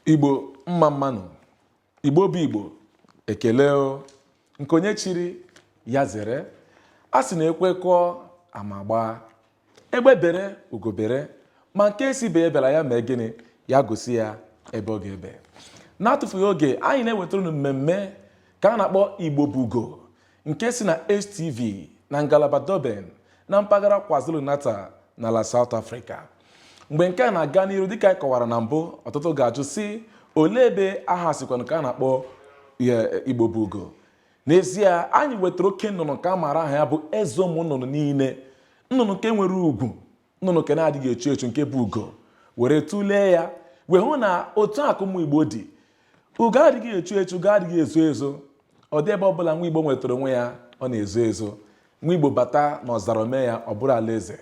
Igbo mma mmanụ, Igbo bụ Igbo, ekele o, nke onye chiri ya zere, a sị na ekwe kụọ ama agbaa, egbe bere ugo bere, ma nke sị ibe ya ebela ya mee gịnị, ya gosi ya ebe ọ ga-ebe. N'atụfughị oge, anyị na-ewetara unu mmemme nke a na-akpọ Igbo bụ Ugo, nke si na HTV na ngalaba Durban na mpaghara KwaZulu-Natal n'ala South Africa. Mgbe nke a na-aga n'iru dịka anyị kọwara na mbụ ọtụtụ ga-ajụ sị olee ebe aha sikwanụ nke a na-akpọ Igbo bụ ugo n'ezie anyị wetara oke nnụnụ nke a maara aha ya bụ eze ụmụ nnụnụ niile nnụnụ nke nwere ugwu nnụnụ nke na-adịghị echu echu nke bụ ugo were tụlee ya wee hụ na otu a ka ụmụ igbo dị ugo adịghị echu echu ugo adịghị ezo ezo ọ dị ebe ọbụla nwa igbo nwetara onwe ya ọ na-ezo ezo nwa igbo bata na ọzara o mee ya ọ bụrụ alaeze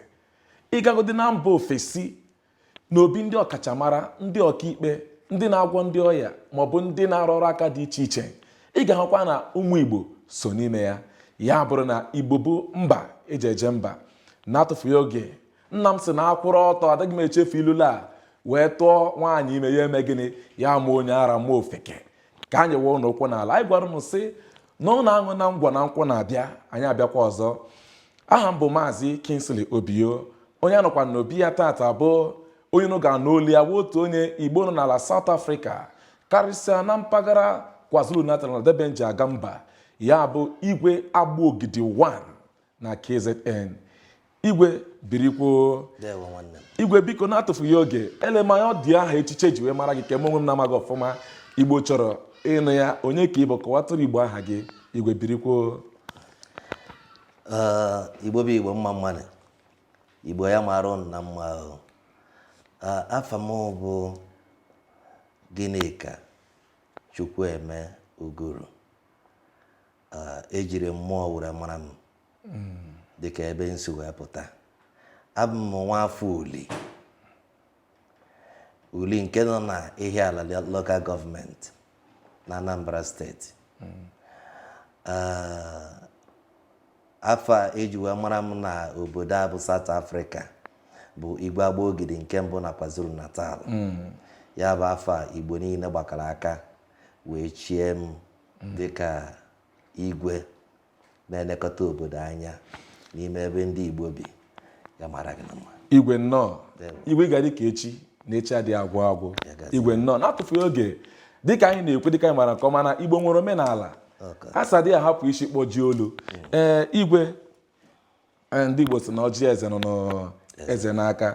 ị gagodi na mba ofesi na obi ndị ọkachamara ndị ọkaikpe ndị na-agwọ ndị ọya maọbụ ndị na-arụ ọrụ aka dị iche iche ị ga-ahụkwa na ụmụ igbo so n'ime ya ya bụrụ na igbo bụ mba eji eje mba N'atụfughị oge, nna m sị na a kwụrụ ọtọ adịghị m echefu ilulu a wee tụọ nwaanyị ime ya eme gịnị ya mụọ onye ara mụọ ofeke ka anyị wee ụlọ ụkwụ n'ala anyị gwara unu sị na unu aṅụ na ngwọ na nkwụ na-abịa anyị abịakwa ọzọ aha m bụ maazị Kingsley Obio onye a nọkwa n'obi ya tata bụ onye unu ga-anụ olu ya otu onye Igbo nọ n'ala South Africa karịsịa na mpaghara KwaZulu-Natal na Durban ji aga mba ya bụ igwe agba ogidi 1 na KZN igwe birikwo igwe biko na-atụfughị oge elemanya ọ dị aha echichi eji wee mara gị nke mụ onwe m na-amaghị ọfụma igbo chọrọ ịnụ ya onye ka ị bụ kọwatụrụ igbo aha gị igwe birikwo igbo bụ igbo mma mmanụ igbo ya mara ụnụ na mma o afa m bụ Gịnịka Chukwueme Uguru E jiri mmụọ were mara m dịka ebe m si wee pụta. Abụ m nwaafọ Uli. Uli nke nọ na Ihiala Local Government na Anambra Steeti. Ah, afa eji wee mara m na obodo a bụ South Africa bụ Igwe Agba Ogidi nke mbụ na KwaZulu Natal. Ya bụ afa Igbo niile gbakọrọ aka wee chie m dịka igwe na-elekọta obodo anya n'ime ebe ndị Igbo bi ya mara gị na mma igwe nnọọ igwe ị ga-adị ka echi na echi adịghị agwụ agwụ igwe nnọọ na-atụfughị oge dịka anyị na-ekwu dịka anyị mara nke ọma na Igbo nwere omenala a sị adịghị ahapụ isi kpọjie olu ee igwe Ee, ndị Igbo sị na ọjị eze nọ n'eze n'aka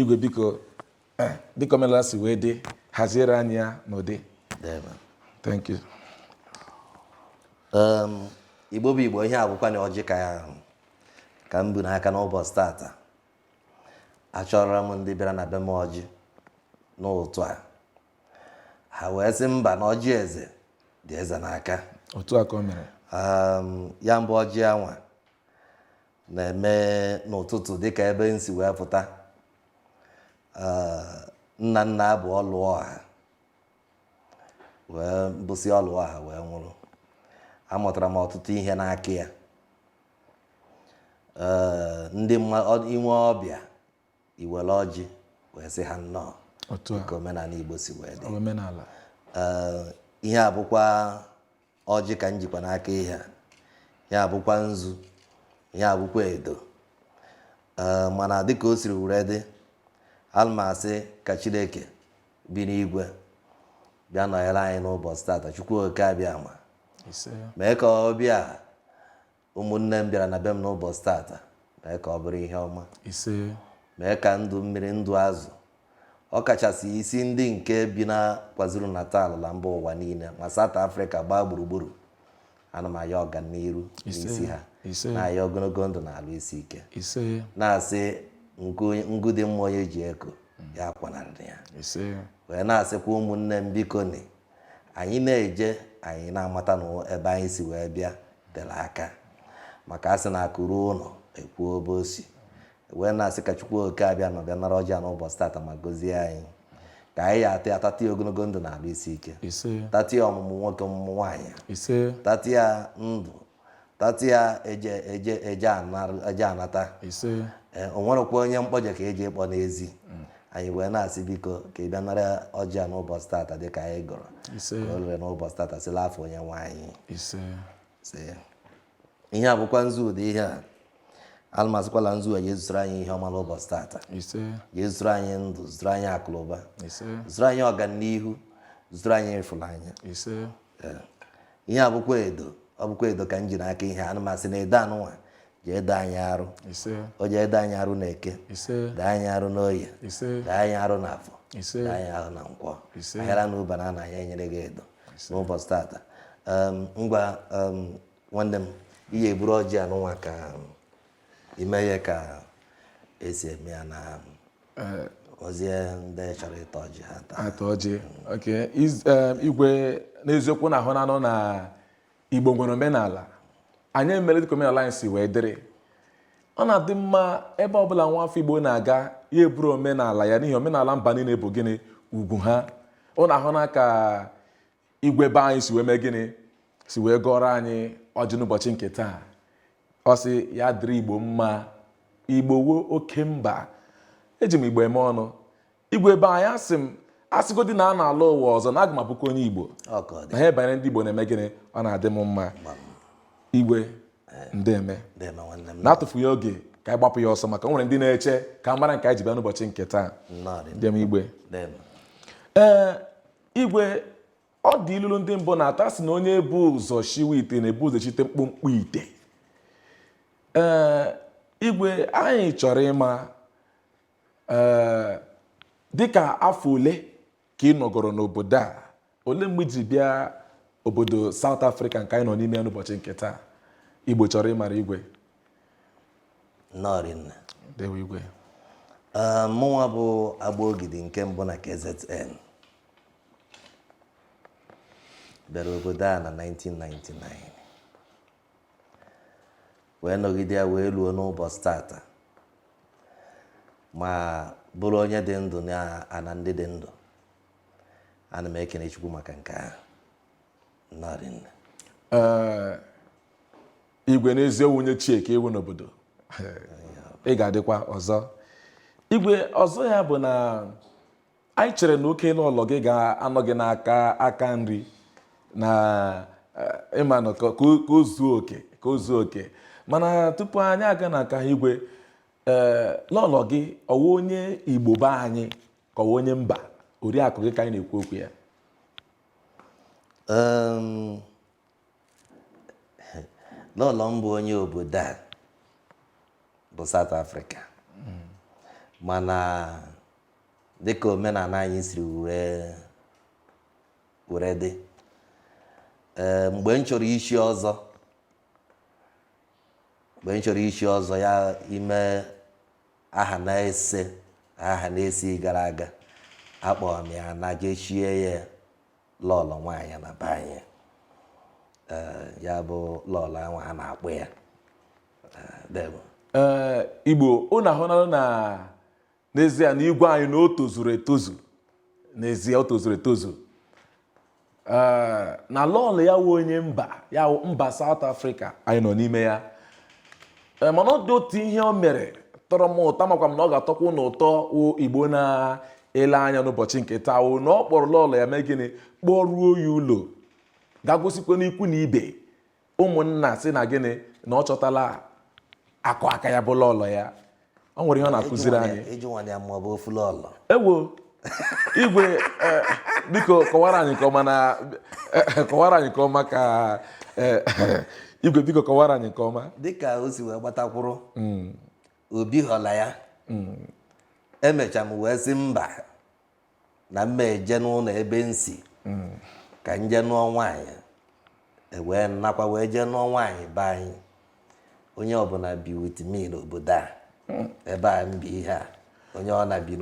igwe biko eh, dịka omenala si wee dị haziere anyị ya n'ụdị Deeme. thank you Um, igbo bụ igbo ihe a bụkwanụ ọjị ka m bu n'aka n'ụbọchị tata achọrọ m ndị bịara na be m ọjị n'ụtụtụ a ha wee sị mba na ọjị eze dị eze n'aka otu a ka o mere um, ya bụ ọjị anwa na-eme n'ụtụtụ dịka ebe m si wee pụta uh, nna nna bụ Oluọha wee bụsị Oluọha wee nwụrụ amụtara m ọtụtụ ihe n'aka ya uh, ndị i nwee ọbịa i were ọjị wee sị ha nnọọ ka omenala Igbo si wee dị omenala ihe a bụkwa ọjị ka m jikwa n'aka ihe a bụkwa nzu ihe a bụkwa edo mana dịka o siri were dị ana m asị ka Chineke bi n'igwe bịa nọnyere anyị n'ụbọchị tata Chukwu oke Abịama mee ka ọbịa Ụmụnne m bịara na be m n'ụbọchị tata, mee ka ọ bụrụ ihe ọma. Ise. Mee ka ndụ mmiri ndụ azụ, ọ kachasị isi ndị nke bi na Kwazulu Natal na mba ụwa niile ma South Africa gbaa gburugburu. Ana m ayọ ọganiru Ise. n'isi ha, Ise. na-ayọ ogologo ndụ na alụ isi ike, Ise. na-asị nku ngu dị mma onye ji eko ya akwanarịrị ya. Ise. Wee na-asịkwa ụmụnne m biko ni Anyị na-eje, anyị na-amata na ebe anyị si wee bịa tere aka. Maka a sị na akụ ruo ụlọ, e kwuo ebe o si. Wee na-asị ka Chukwu oke Abịama bịa nara ọjị a n'ụbọchị tata ma gozie anyị. Ka anyị ya ata ya tata ya ogologo ndụ na arụ isi ike. Ise. Tata ya ọmụmụ nwoke ọmụmụ nwaanyị. Ise. Tata ya ndụ Tata ya eje eje eje anar- eje anata ise Ee, o nwerekwa onye m kpọje ka eji ịkpọ n'ezi anyị wee na-asị biko ka ị bịa nara ọjị a n'ụbọchị tata dịka anyị gọrọ ise ka o rere n'ụbọchị tata si n'afa onye nwe anyị ise sị ihe a bụkwa nzu ụdị ihe a ana m asịkwa na nzu a ya-ezusoro anyị ihe ọma n'ụbọchị tata ise ya-ezusoro anyị ndụ zuoro anyị akụlụba ise zusoro anyị ọganihu zusoro anyị ịfụnanya ise ihe a bụkwa edo ọ bụkwa edo ka m ji n'aka ihe ana m asị na edo anụnwa je-edo anyị arụ o je-edo anyị arụ n'eke doo anyị arụ n'oye doo anyị arụ n'afọ doo anyị arụ na nkwọ ahịara na ụba na ana anyị enyere gị edo n'ụbọchị tata ngwa nwanne m ị ya-eburu ọjị anụnwa ka i mee ya ka esi eme ya na eh. ọzie ndị chọrọ ịta ọjị ha taa ata ọjị ok Iz- em, igwe n'eziokwu unu ahụnanụ na igbo nwere omenala anyị emere dịka omenala anyị si wee dịrị ọ na-adị mma ebe ọbụla nwa afọ igbo na-aga ya buru omenala ya n'ihi omenala mba niile bụ gịnị ugwu ha unu ahụna ka igwe be anyị si wee mee gịnị si wee gọrọ anyị ọjị n'ụbọchị nke taa ọ sị ya dịrị igbo mma igbo wụ oke mba eji m igbo eme ọnụ igwe be anyị asị m asịgodi na a na-alọ ụwa ọzọ na aga m abụkwa onye igbo na ihe banyere ndị igbo na-eme gịnị ọ na-adị m mma igwe eh. ndeme n'atụfughị oge ka anyị gbapụ ya ọsọ maka o nwere ndị na-eche ka ha mara nke anyị ji bịa n'ụbọchị nke taa deeme igwe ee eh, igwe ọ dị ilulu ndị mbụ na-atụ asị na onye bu ụzọ shiwe ite na-ebu ụzọ eshite mkpọmkpọ ite ee igwe anyị chọrọ ịma ee dịka afọ ole ka ị nọgoro n'obodo a olee mgbe i ji bịa obodo South Africa nke anyị nọ n'ime ya n'ụbọchị nke taa igbo chọrọ ịmara igwe nnọọ rinne Ndewo igwe. Ee, mụnwa bụ Agbaogidi nke mbụ na KZN bịara obodo a na 1999 wee nọgide ya wee luo n'ụbọchị tata ma bụrụ onye dị ndụ na ana ndị dị ndụ ana m ekene Chukwu maka nke ahụ nnọọ rinne Ee, igwe n'ezi ọ wụ onye ochie ka ị wụ n'obodo ị ga-adịkwa ọzọ igwe ọzọ ya bụ na anyị chere na oke lọlọ gị ga-anọ gị n'aka aka nri na eh, ịmanụ ka o zuo oke ka o zuo oke mana tupu anyị aga na nke ahụ igwe ee eh, lọlọ gị ọ wụ onye igbo be anyị ka ọ wụ onye mba oriakụ gị ka anyị na-ekwu okwu ya lọlọ m bụ onye obodo a bụ South Africa mana dịka omenala anyị siri were were dị ee mgbe m chọrọ ichi ọzọ mgbe m chọrọ ichi ọzọ ya ime aha n'ise aha n'isii gara aga akpọrọ m ya naa je chie ya lọọlọ nwaanyị na be anyị ee ya bụ lọọlọ ahụ a na-akpọ ya ee dewo ee igbo unu ahụnala na n'ezie na igwe anyị na o tozuru etozu n'ezie o tozuru etozu ee na lọọlọ ya wụ onye mba South Africa anyị nọ n'ime ya ee mana ọ dị otu ihe o mere tọrọ m ụtọ makwa m na ọ ga-atọkwa unu ụtọ igbo na ele anya n'ụbọchị nke taa wụ na ọ kpọrọ lọlọ ya mee gịnị kpọruo ya ụlọ gaa gosikwanụ ikwu na ibe ụmụnna sị na gịnị na ọ chọtala akụ aka ya bụ lọlọ ya ọ nwere ihe ọ na-akụziri anyị ewo igwe e, biko kọwara anyị nke ọma ka igwe biko kọwara anyị nke ọma dịka o si wee gbatakwụrụ hmm. obi họla ya hmm. emecha m wee sị mba na m ma-eje n'ụnọ ebe m si hmm. ka m jee nụọ nwaanyị wee nakwa wee jee nụọ nwaanyị be anyị onye ọbụla bi with me n'obodo a hmm. ebe a m bi ihe a onye ọ na-ebi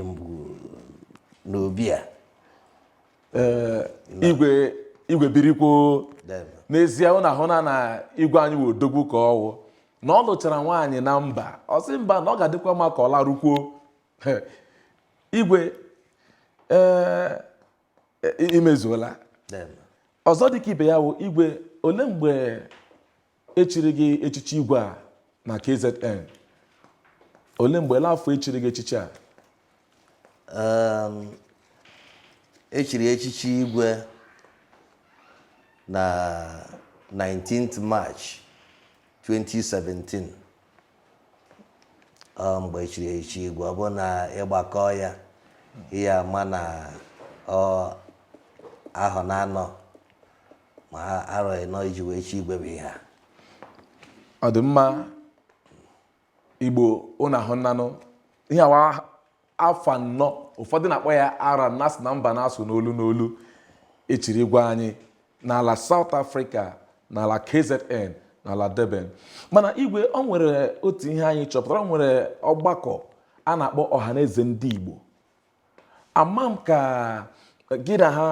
mbụ n'obi a Eh, igwe igwe birikwo deeme. n'ezie ụnụ ahụna na igwe anyị wụ odogwu ka ọ wụ na ọ lụchara nwaanyị na mba ọ sị mba na ọ ga-adịkwa mma ka ọ larukwuo He, igwe ee i mezuola deeme. ọzọ dịka ibe ya wụ igwe ole mgbe echiri gị echichi igwe a na KZN ole mgbe ole afọ echiri gị echichi a um, echiri echichi igwe na 19th March 2017 ọ mgbe echiri echichi igwe ọ bụ na ị gbakọọ ya ị ya-ama na ọ ahọ naanọ ma arọ ịnọ e ji wee chie igwe bụ ihe a ọ dị mma igbo ụnụ ahụnanụ ihe a wụ afọ anọ ụfọdụ na-akpọ ya arọ na-asị na mba na-asụ n'olu n'olu echiri igwe anyị n'ala South Africa n'ala KZN n'ala Durban mana igwe ọ nwere otu ihe anyị chọpụtara ọ nwere ọgbakọ a na-akpọ ọhaneze ndị Igbo ama m ka gị na ha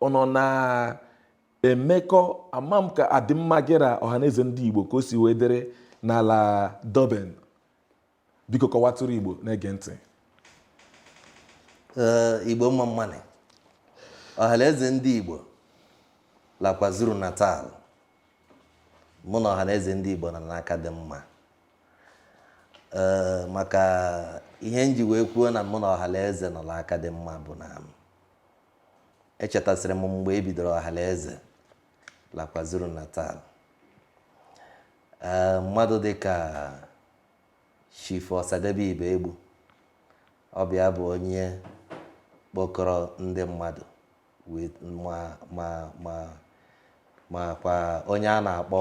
ụnụ na-emekọ ama m ka adịmma gị na ọhaneze ndị igbo ka o si wee dịrị n'ala Durban biko kọwatụrụ igbo na-ege ntị ee igbo mma mma nụ ọhaneze ndị igbo la KwaZulu-Natal mụ na ọhaneze ndị igbo nọ n'aka dị mma ee maka ihe m ji wee kwuo na mụ na ọhalaeze nọ la aka dị mma bụ na echetasịrị m mgbe e bidoro ọhalaeze la KwaZulu Natal ee mmadụ dị ka chief Osadebe Ibegbu ọ bụ ya bụ onye kpọkọrọ ndị mmadụ wee ma ma ma makwa onye a na-akpọ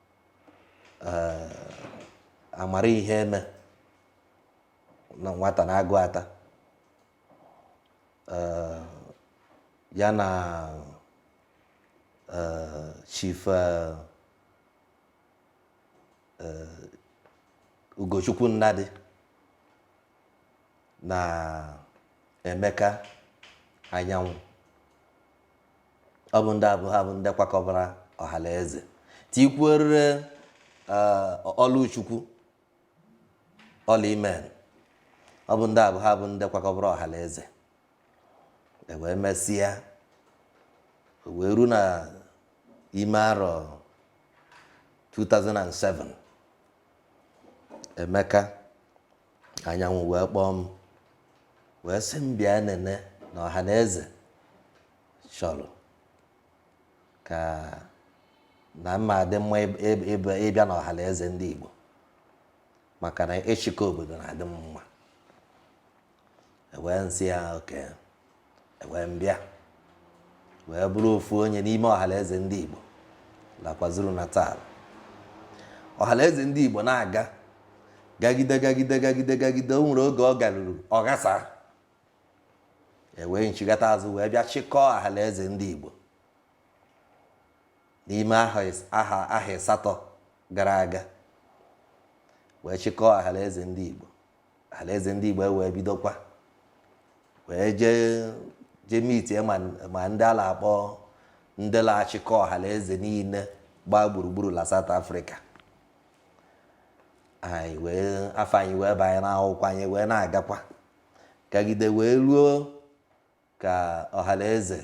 Amara Iheme na nwata na-agụ ata ya na chief Ugochukwu Nnadị na Emeka Anyanwụ Ọ bụ ndị a bụ ha bụ ndị kwakọbara ọhalaeze tikwuorire eh, Ọlụchukwu ọla imen ọ bụ ndị a bụ ha bụ ndị kwakọbara ọhalaeze e wee mesịa o wee ru na ime arọ 2007 Emeka Anyanwụ wee kpọọ m wee sị m bịa nene na ọha na eze chọrọ ka na mma adị mma ịbịa na ọha na eze ndị Igbo maka na ịchịkọ obodo na-adị mma e wee m sị ya okay ewee m bịa wee bụrụ ofu onye n'ime ọhalaeze ndị Igbo la KwaZulu Natal ọhalaeze ndị Igbo na-aga gagide gagide gagide gagide o nwere oge ọ garuru ọ ghasa ewee m chigata azụ wee bịa chịkọọ ọhalaeze ndị Igbo n'ime ahọ ahọ ịsatọ gara aga wee chịkọọ ọhalaeze ndị Igbo alaeze ndị Igbo ewee bidokwa wee jee jee meetie ma ndị a na-akpọ ndị na-achịkọ ọhanaeze niile gbaa gburugburu la South Africa anyị wee afa anyị wee banye n'akwụkwọ anyị wee na-agakwa gagide wee ruo ka ọhanaeze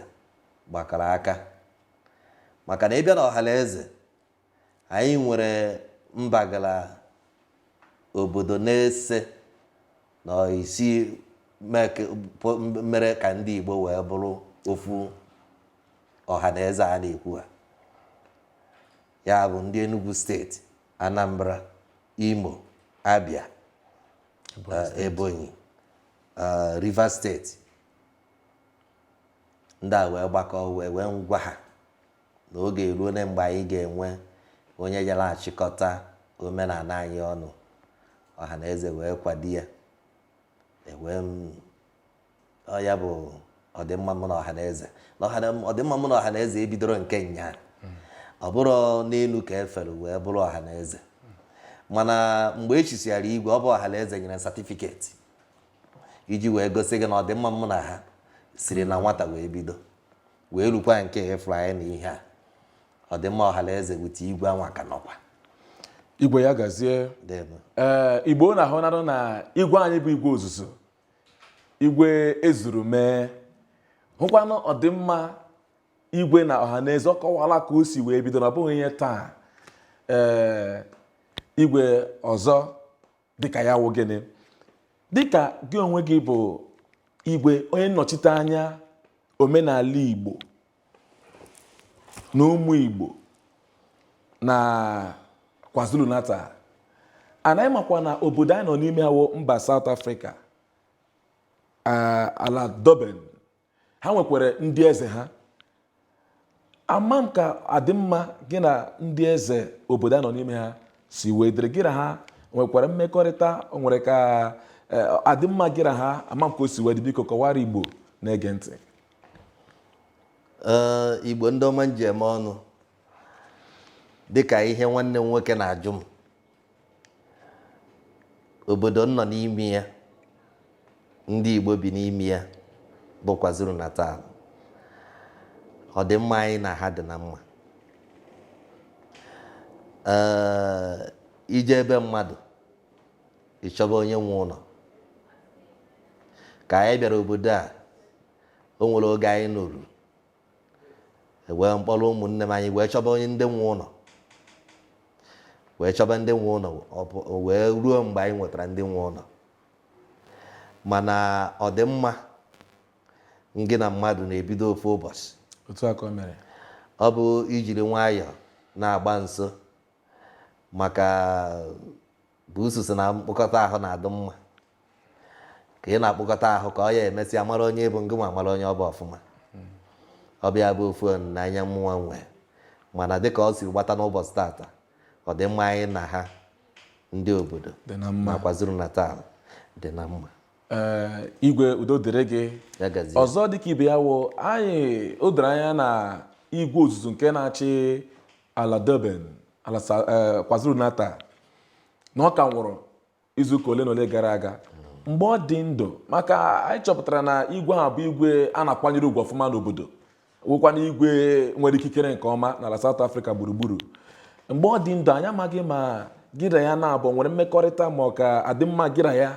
gbakọrọ aka maka na ịbịa na ọhanaeze Anyị nwere mpaghara obodo na ise na isii mere ka ndị Igbo wee bụrụ ofu ọha na eze a na-ekwu ha ya bụ ndị Enugu steeti Anambra Imo Abia Ebonyi eh, Rivers steeti ndị a wee gbakọọ wee wee m gwa ha na oge eruole mgbe anyị ga-enwe onye ya na-achịkọta omenala anyị ọnụ. Ọhanaeze wee kwado ya. Ewee m ọ ya bụ ọdịmma mụ na ọhanaeze na ọhana- ọdịmma mụ na ọhanaeze ebidoro nke nya ọ bụrọ n'elu ka e fere wee bụrụ ọhanaeze mana mgbe e chisiara igwe ọ bụ ọhanaeze nyere satifiketi iji wee gosi gị na ọdịmma mụ na ha siri na nwata wee bido Wee rukwa nke ị fụrụ anyị na ihe a, ọdịmma ọhanaeze with igwe anwa ka nọkwa. Igwe ya gazie. Debe. Ee, Igbo na-ahụ narụ na igwe anyị bụ igwe ozuzu, igwe e zuru mee. Hụkwanụ ọdịmma igwe na ọhanaeze ọ kọwala ka o si wee bido na ọ bụghị ihe taa. Ee, igwe ọzọ dịka ya wụ gịnị dịka gị onwe gị bụ igwe onye nnọchite anya omenala igbo na ụmụ igbo na kwazulu natal anyị makwa na obodo anyị nọ n'ime ya wụ mba South Africa ala Durban ha nwekwara ndị eze ha ama m ka adịmma gị na ndị eze obodo a nọ n'ime ha si wee dịrị gị na ha nwekwara mmekọrịta o nwere ka e, adịmma gị na ha ama m ka o si wee dị biko kọwara igbo na-ege ntị Ee, igbo ndị ọma m ji eme ọnụ dịka ihe nwanne m nwoke na-ajụ m obodo m nọ n'ime ya ndị Igbo bi n'ime ya bụ kwazulu natal ọdịmma anyị na ha dị na mma ee i jee be mmadụ ị chọba onye nwe ụlọ ka anyị bịara obodo a o nwere oge anyị nọrụ ewee m kpọrọ ụmụnne m anyị wee chọba onye ndị nwe ụlọ wee chọba ndị nwe ụlọ wee ruo mgbe anyị nwetara ndị nwe ụlọ mana ọdịmma ngị na mmadụ na-ebido ofu ụbọchị otu a ka mere ọ bụ i jiri nwayọọ na-agba nso maka Buusu sị na mkpụkọta ahụ na-adị mma ka ị na-akpụkọta ahụ ka ọ ya emesịa mara onye ị bụ ngị nwa mara onye ọ bụ ọfụma ọ bụ ya bụ ofu olileanya mụnwa nwee mana dịka o siri gbata n'ụbọchị tata ọdịmma anyị na ha ndị obodo na kwazulu natal dị na mma Ee, igwe udo dịrị gị ya gazie ọzọ dịka ibe ya wụ anyị o doro anya na igwe ozuzu nke na-achị ala Durban ala eh, KwaZulu-Natal na ọ ka nwụrụ izuụka ole na ole gara aga mgbe ọ dị ndụ maka anyị chọpụtara na igwe ahụ bụ igwe a na-akwanyere ugwu ọfụma n'obodo wụkwana igwe nwere ikikere nke ọma n'ala South Africa gburugburu mgbe ọ dị ndụ anyị amaghị ma gị na ya naabọ nwere mmekọrịta ma ọ ka adịmma gị na ya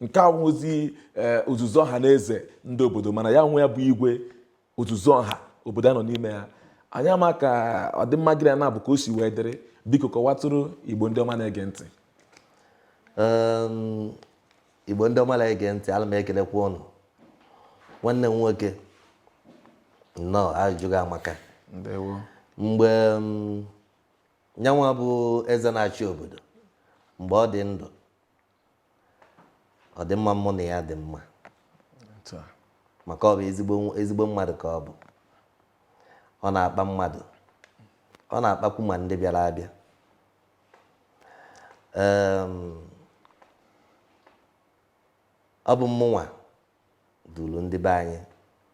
nke awụzi eh, ozuzu ọha na eze ndị obodo mana ya onwe ya bụ igwe ozuzu ọha obodo a nọ n'ime ya anyị ama ka ọdịmma gị na ya naabọ ka o si wee dịrị biko kọwatụrụ Igbo ndị ọma na-ege ntị Igbo ndị ọma na-ege ntị ala m ekelekwa ụnụ nwanne m nwoke nnọọ ajụjụ gị amaka mgbe nyanwa bụ eze na-achị obodo mgbe ọ dị ndụ ọ dị mma mụ na ya dị mma maka ọ bụ ezigbo mmadụ ka ọ bụ ọ na-akpa mmadụ ọ na-akpakwu ma ndị bịara abịa ọ bụ mụnwa duru ndị be anyị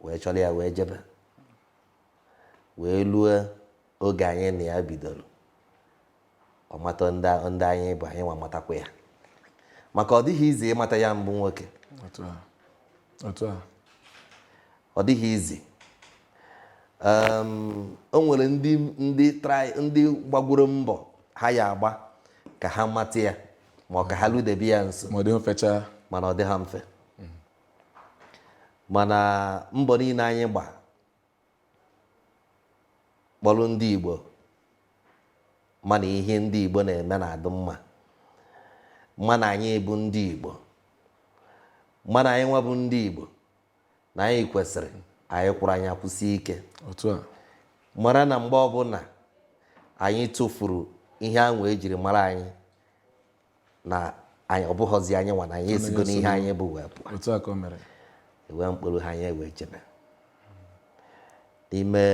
wee chọrọ ya wee jebe wee lue oge anyị na ya bidoro ọ mata ndị ndị anyị bụ anyị nwa matakwa ya maka ọ dịghị easy ịmata ya bụ nwoke otu a otu a ọ dịghị easy Em, o nwere ndị ndị try ndị gbagworo mbọ ha ya agba ka ha mata ya ma ọ ka ha ludebe ya nso ma ọ dịghị mfecha mana ọ dị ha mfe mana mbọ niile anyị gba kpọrọ ndị Igbo ma na ihe ndị Igbo na-eme na-adị mma ma na anyị bụ ndị Igbo ma na anyị nwa bụ ndị Igbo na anyị kwesịrị anyị kwụrụ anyị akwụsie ike mara na mgbe ọbụla anyị tụfuru ihe ahụ e jiri mara anyị na ọ bụghọzi anyị nwa na anyị esigo n'ihe anyị bụ wee pụọ e wee m kpọrọ ha anyị ewee jebe n'ime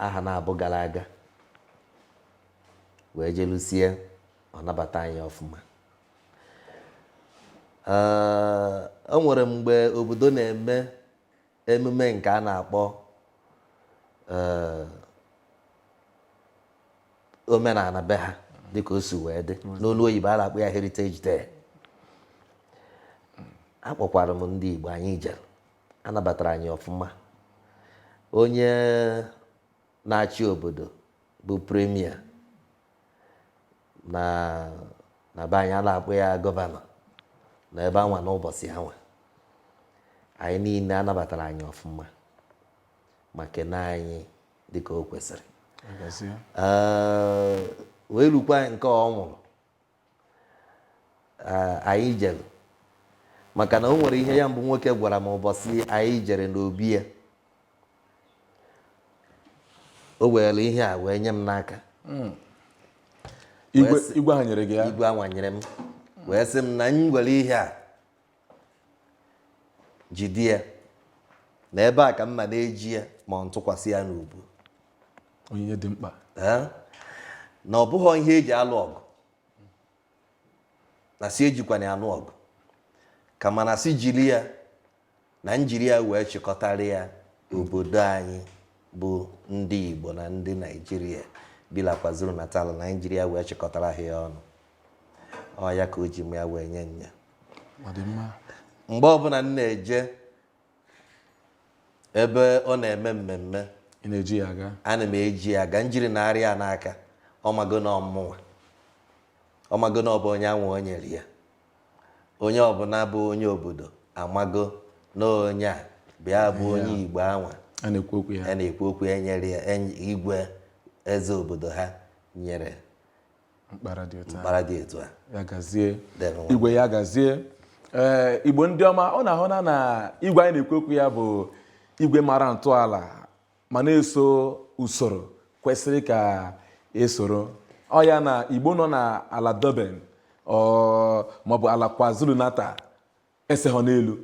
ahọ naabọ gara aga wee jelusie ọ nabata anyị ọfụma Ee, o nwere mgbe obodo na-eme emume nke a na-akpọ ee, omenala be ha dịka o si wee dị n'olu oyibo a na-akpọ ya Heritage Day akpọkwara m ndị Igbo anyị jere a nabatara anyị ọfụma onye na-achị obodo bụ premier na na be anyị a na-akpọ ya gọvanọ na ebe anwa n'ụbọchị anwa anyị niile a nabatara anyị ọfụma ma kene anyị dịka o kwesịrị wee rukwa nke ọ nwụrụ ee, anyị jere maka na o nwere ihe ya bụ nwoke gwara m ụbọchị anyị jere n'obi ya o were ihe a wee nye m n'aka igwe Wee sị- igwe ha nyere gị ya igwe anwa nyere m wee sị m na m were ihe a Jide ya. Na ebe a ka m ma na-eji ya ma m tụkwasị ya n'ubu. Onyinye dị mkpa. Ee, na ọ bụghị ihe e ji alụ ọgụ. Na sị ejikwana ya alụ ọgụ. Kama na sị jiri ya na m jiri ya wee chịkọtara ya obodo anyị bụ ndị Igbo na ndị Naijiria bi na KwaZulu-Natal na anyị jiri ya wee chịkọtara ha ya ọnụ. Ọ ya ka o ji mụ ya wee nye nya. mgbe ọbụla m na-eje ebe ọ na-eme mmemme ana m eji ya aga m jiri na arịa n'aka ọ mago na ọ mụnwa ọ mago na ọ bụ onye anwa o nyere ya onye ọbụla bụ onye obodo amago na onye a bịa bụ onye igbo anwa a na-ekwu okwu ya nyere ya igwe eze obodo ha nyere mkpara dị otu a mkpara dị etu a ya gazie Debe nwa. igwe ya gazie ee igbo ndị ọma unu ahụna na igwe anyị na-ekwu okwu ya bụ igwe mara ntọala ma na-eso usoro kwesịrị ka e soro ọ ya na igbo nọ na ala Durban or maọbụ ala KwaZulu-Natal eseghị n'elu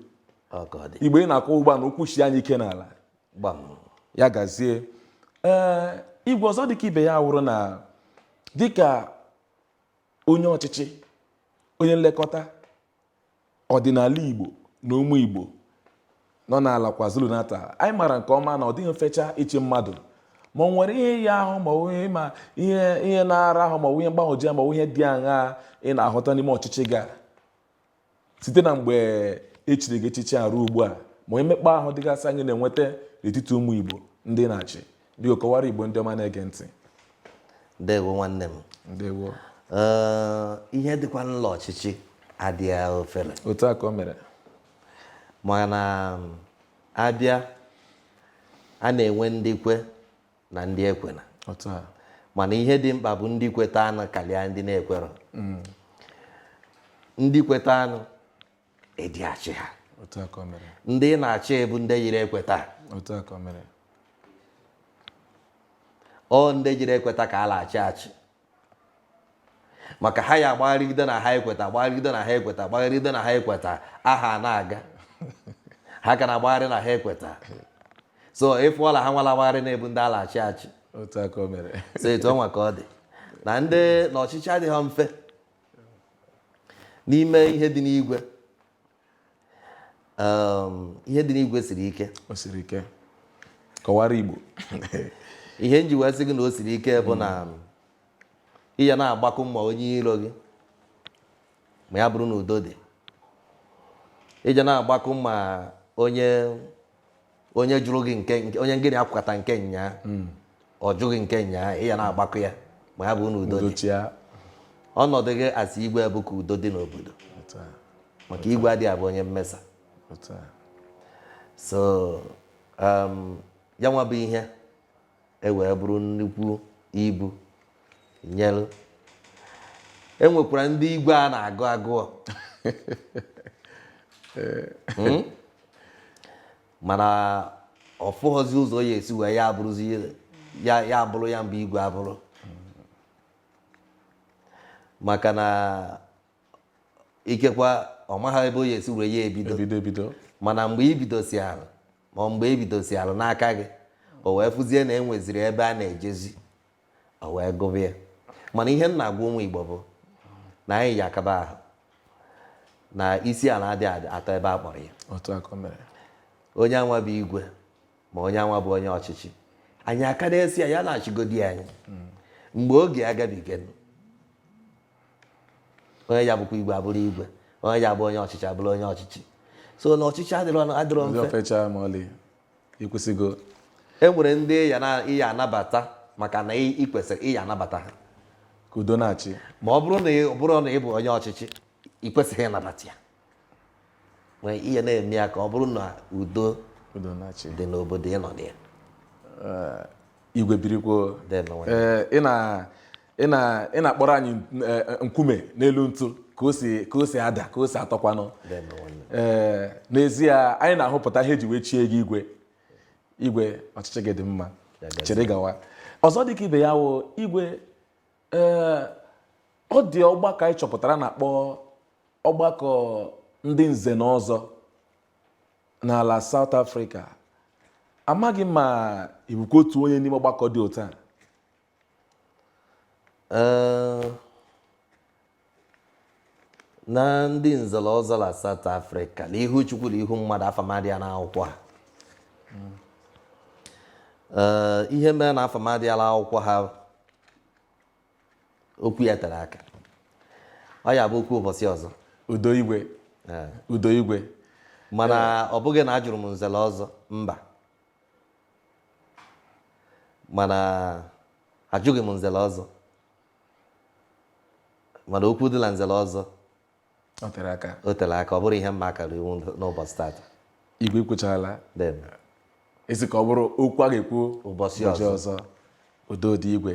igbo ị na-akọ ugbu a na ụkwụ shi anyị ike n'ala ya gazie ee igwe ọzọ dịka ibe ya wụrụ na dịka onye ọchịchị onye nlekọta ọdịnala igbo na ụmụ igbo nọ n'ala KwaZulu-Natal anyị mara nke ọma na ọ dịghị mfe cha ịchị mmadụ ma o nwere ihe ya ahụ ma ihe ma ihe ihe na-ara ahụ ma ihe mgbagwoju anya ma ihe dị aṅa ị na-ahụta n'ime ọchịchị gị a site na mgbe e chiri gị echichi a ruo ugbu a ma o nwee mmekpa ahụ dịgasị anyị na-enweta n'etiti ụmụ igbo ndị ị na-achị biko kọwara igbo ndị ọma na-ege ntị ndewo nwanne m ndewo ihe dịkwa n'ụlọ ọchịchị adịghị ofere otu a ka o mere mana a bịa a na-enwe ndị kwe na ndị ekwena otu a mana ihe dị mkpa bụ ndị kwetanụ karịa ndị na-ekwero ndị kwetanụ ị dị achị ha otu a ka o mere ndị ị na-achị bụ ndị jiri ekweta otu a ka o mere ọ ndị jiri ekweta ka a na-achị achị maka ha ya agbagharịgide na ha ekweta agbagharịgide na ha ekweta agbagharịgide na ha ekweta aha na-aga ha ka na-agbagharị na ha ekweta so ị fụọla ha nwa la-agbagharị na-abụ ndị a la-achị achị otu a ka o mere so etu ọnwa ka ọ dị na ndị na ọchịchị adịghị mfe n'ime ihe dị n'igwe um, ihe dị n'igwe siri ike o siri ike kọwara Igbo ihe m ji wee sị gị na o siri ike bụ na um, ị ya na-agbakụ mma onye iro gị ma ya bụrụ na udo dị ị ya na-agbakụ mma onye onye jụrụ gị nke nke- onye ngịnị akwụkata nke nyaa ọ jụ gị nke nyaa ị ya na-agbakụ ya ma ya bụrụ na udo dị dochia ọnọdụ gị as igwe bụ ka udo dị n'obodo otu a maka igwe adịghị abụ onye mmesa otu a so um, ya nwa bụ ihe e wee bụrụ nnukwu ibu nyelụ e nwekwara ndị igwe a na-agụ agụọ hmm? mana ọ fụghọzi ụzọ ya esi wee ya abụrụzi ya abụrụ ya bụ igwe abụrụ maka na ikekwa ọ maghị ebe ọ ya esi wee ya ebido mana mgbe i bidosiara ma mgbe e bidosialụ n'aka gị o wee fụzie na enweziri ebe a na-ejezi o wee gụba ya mana ihe m na-agwa ụmụ Igbo bụ na anyị ya akaba ahụ na isi ala adịghị atọ ebe a kpọrọ ya otu a ka o mere onye a nwa bụ igwe ma onye a nwa bụ onye ọchịchị anyị aka na-asị ya ya na-achịgodi anyị mgbe oge agabiga onye ya abụkwa igwe abụrụ igwe onye ya abụ onye ọchịchị abụrụ onye ọchịchị so na ọchịchị adịrọ adịrọ mfe ofecha ma ọlị i kwusigo e nwere ndị ị ya anabata maka na ị kwesịrị ịya anabata ha ka udo na-achị ma ọ bụrụ na ọ bụrụ na ị bụ onye ọchịchị ị kwesịghị ịnabata ya nwee ihe na-eme ya ka ọ bụrụ na udo dị n'obodo ị nọ na ya eh, igwe birikwo eh, ị na-akpọrọ anyị eh, nkume n'elu ntu ka o si ada ka o si atọkwanụ ee n'ezie anyị na-ahụpụta ihe e ji wee chie gị igwe igwe ọchịchị gị dị mma chịrị gawa ọzọ dịka ibe ya wụ igwe ee ọ dị ọgbakọ anyị chọpụtara a na-akpọ ọgbakọ ndị nze na ọzọ n'ala South Africa amaghị m ma ị bụkwa otu onye n'ime ọgbakọ dị otu a na ndị nze na ọzọ na South Africa na ihu chukwu na ihu mmadụ afa m adị ya n'akwụkwọ ha Ee, ihe mere na afa m adị ya n'akwụkwọ ha okwu ya tere aka ọ ya-abụ okwu ụbọchị ọzọ udo igwe Ee. udo igwe mana ọ bụghị na ajụrụ m nze na ọzọ mba mana ajụghị m nze na ọzọ mana okwu dị na nze na ọzọ o tere aka o tere aka ọ bụrọ ihe mma akara ikwu n'ụbọchị tata igwe i kwuchaala i sị ka ọ bụrụ okwu a ga-ekwu Ụbọchị ọzọ. udo dị igwe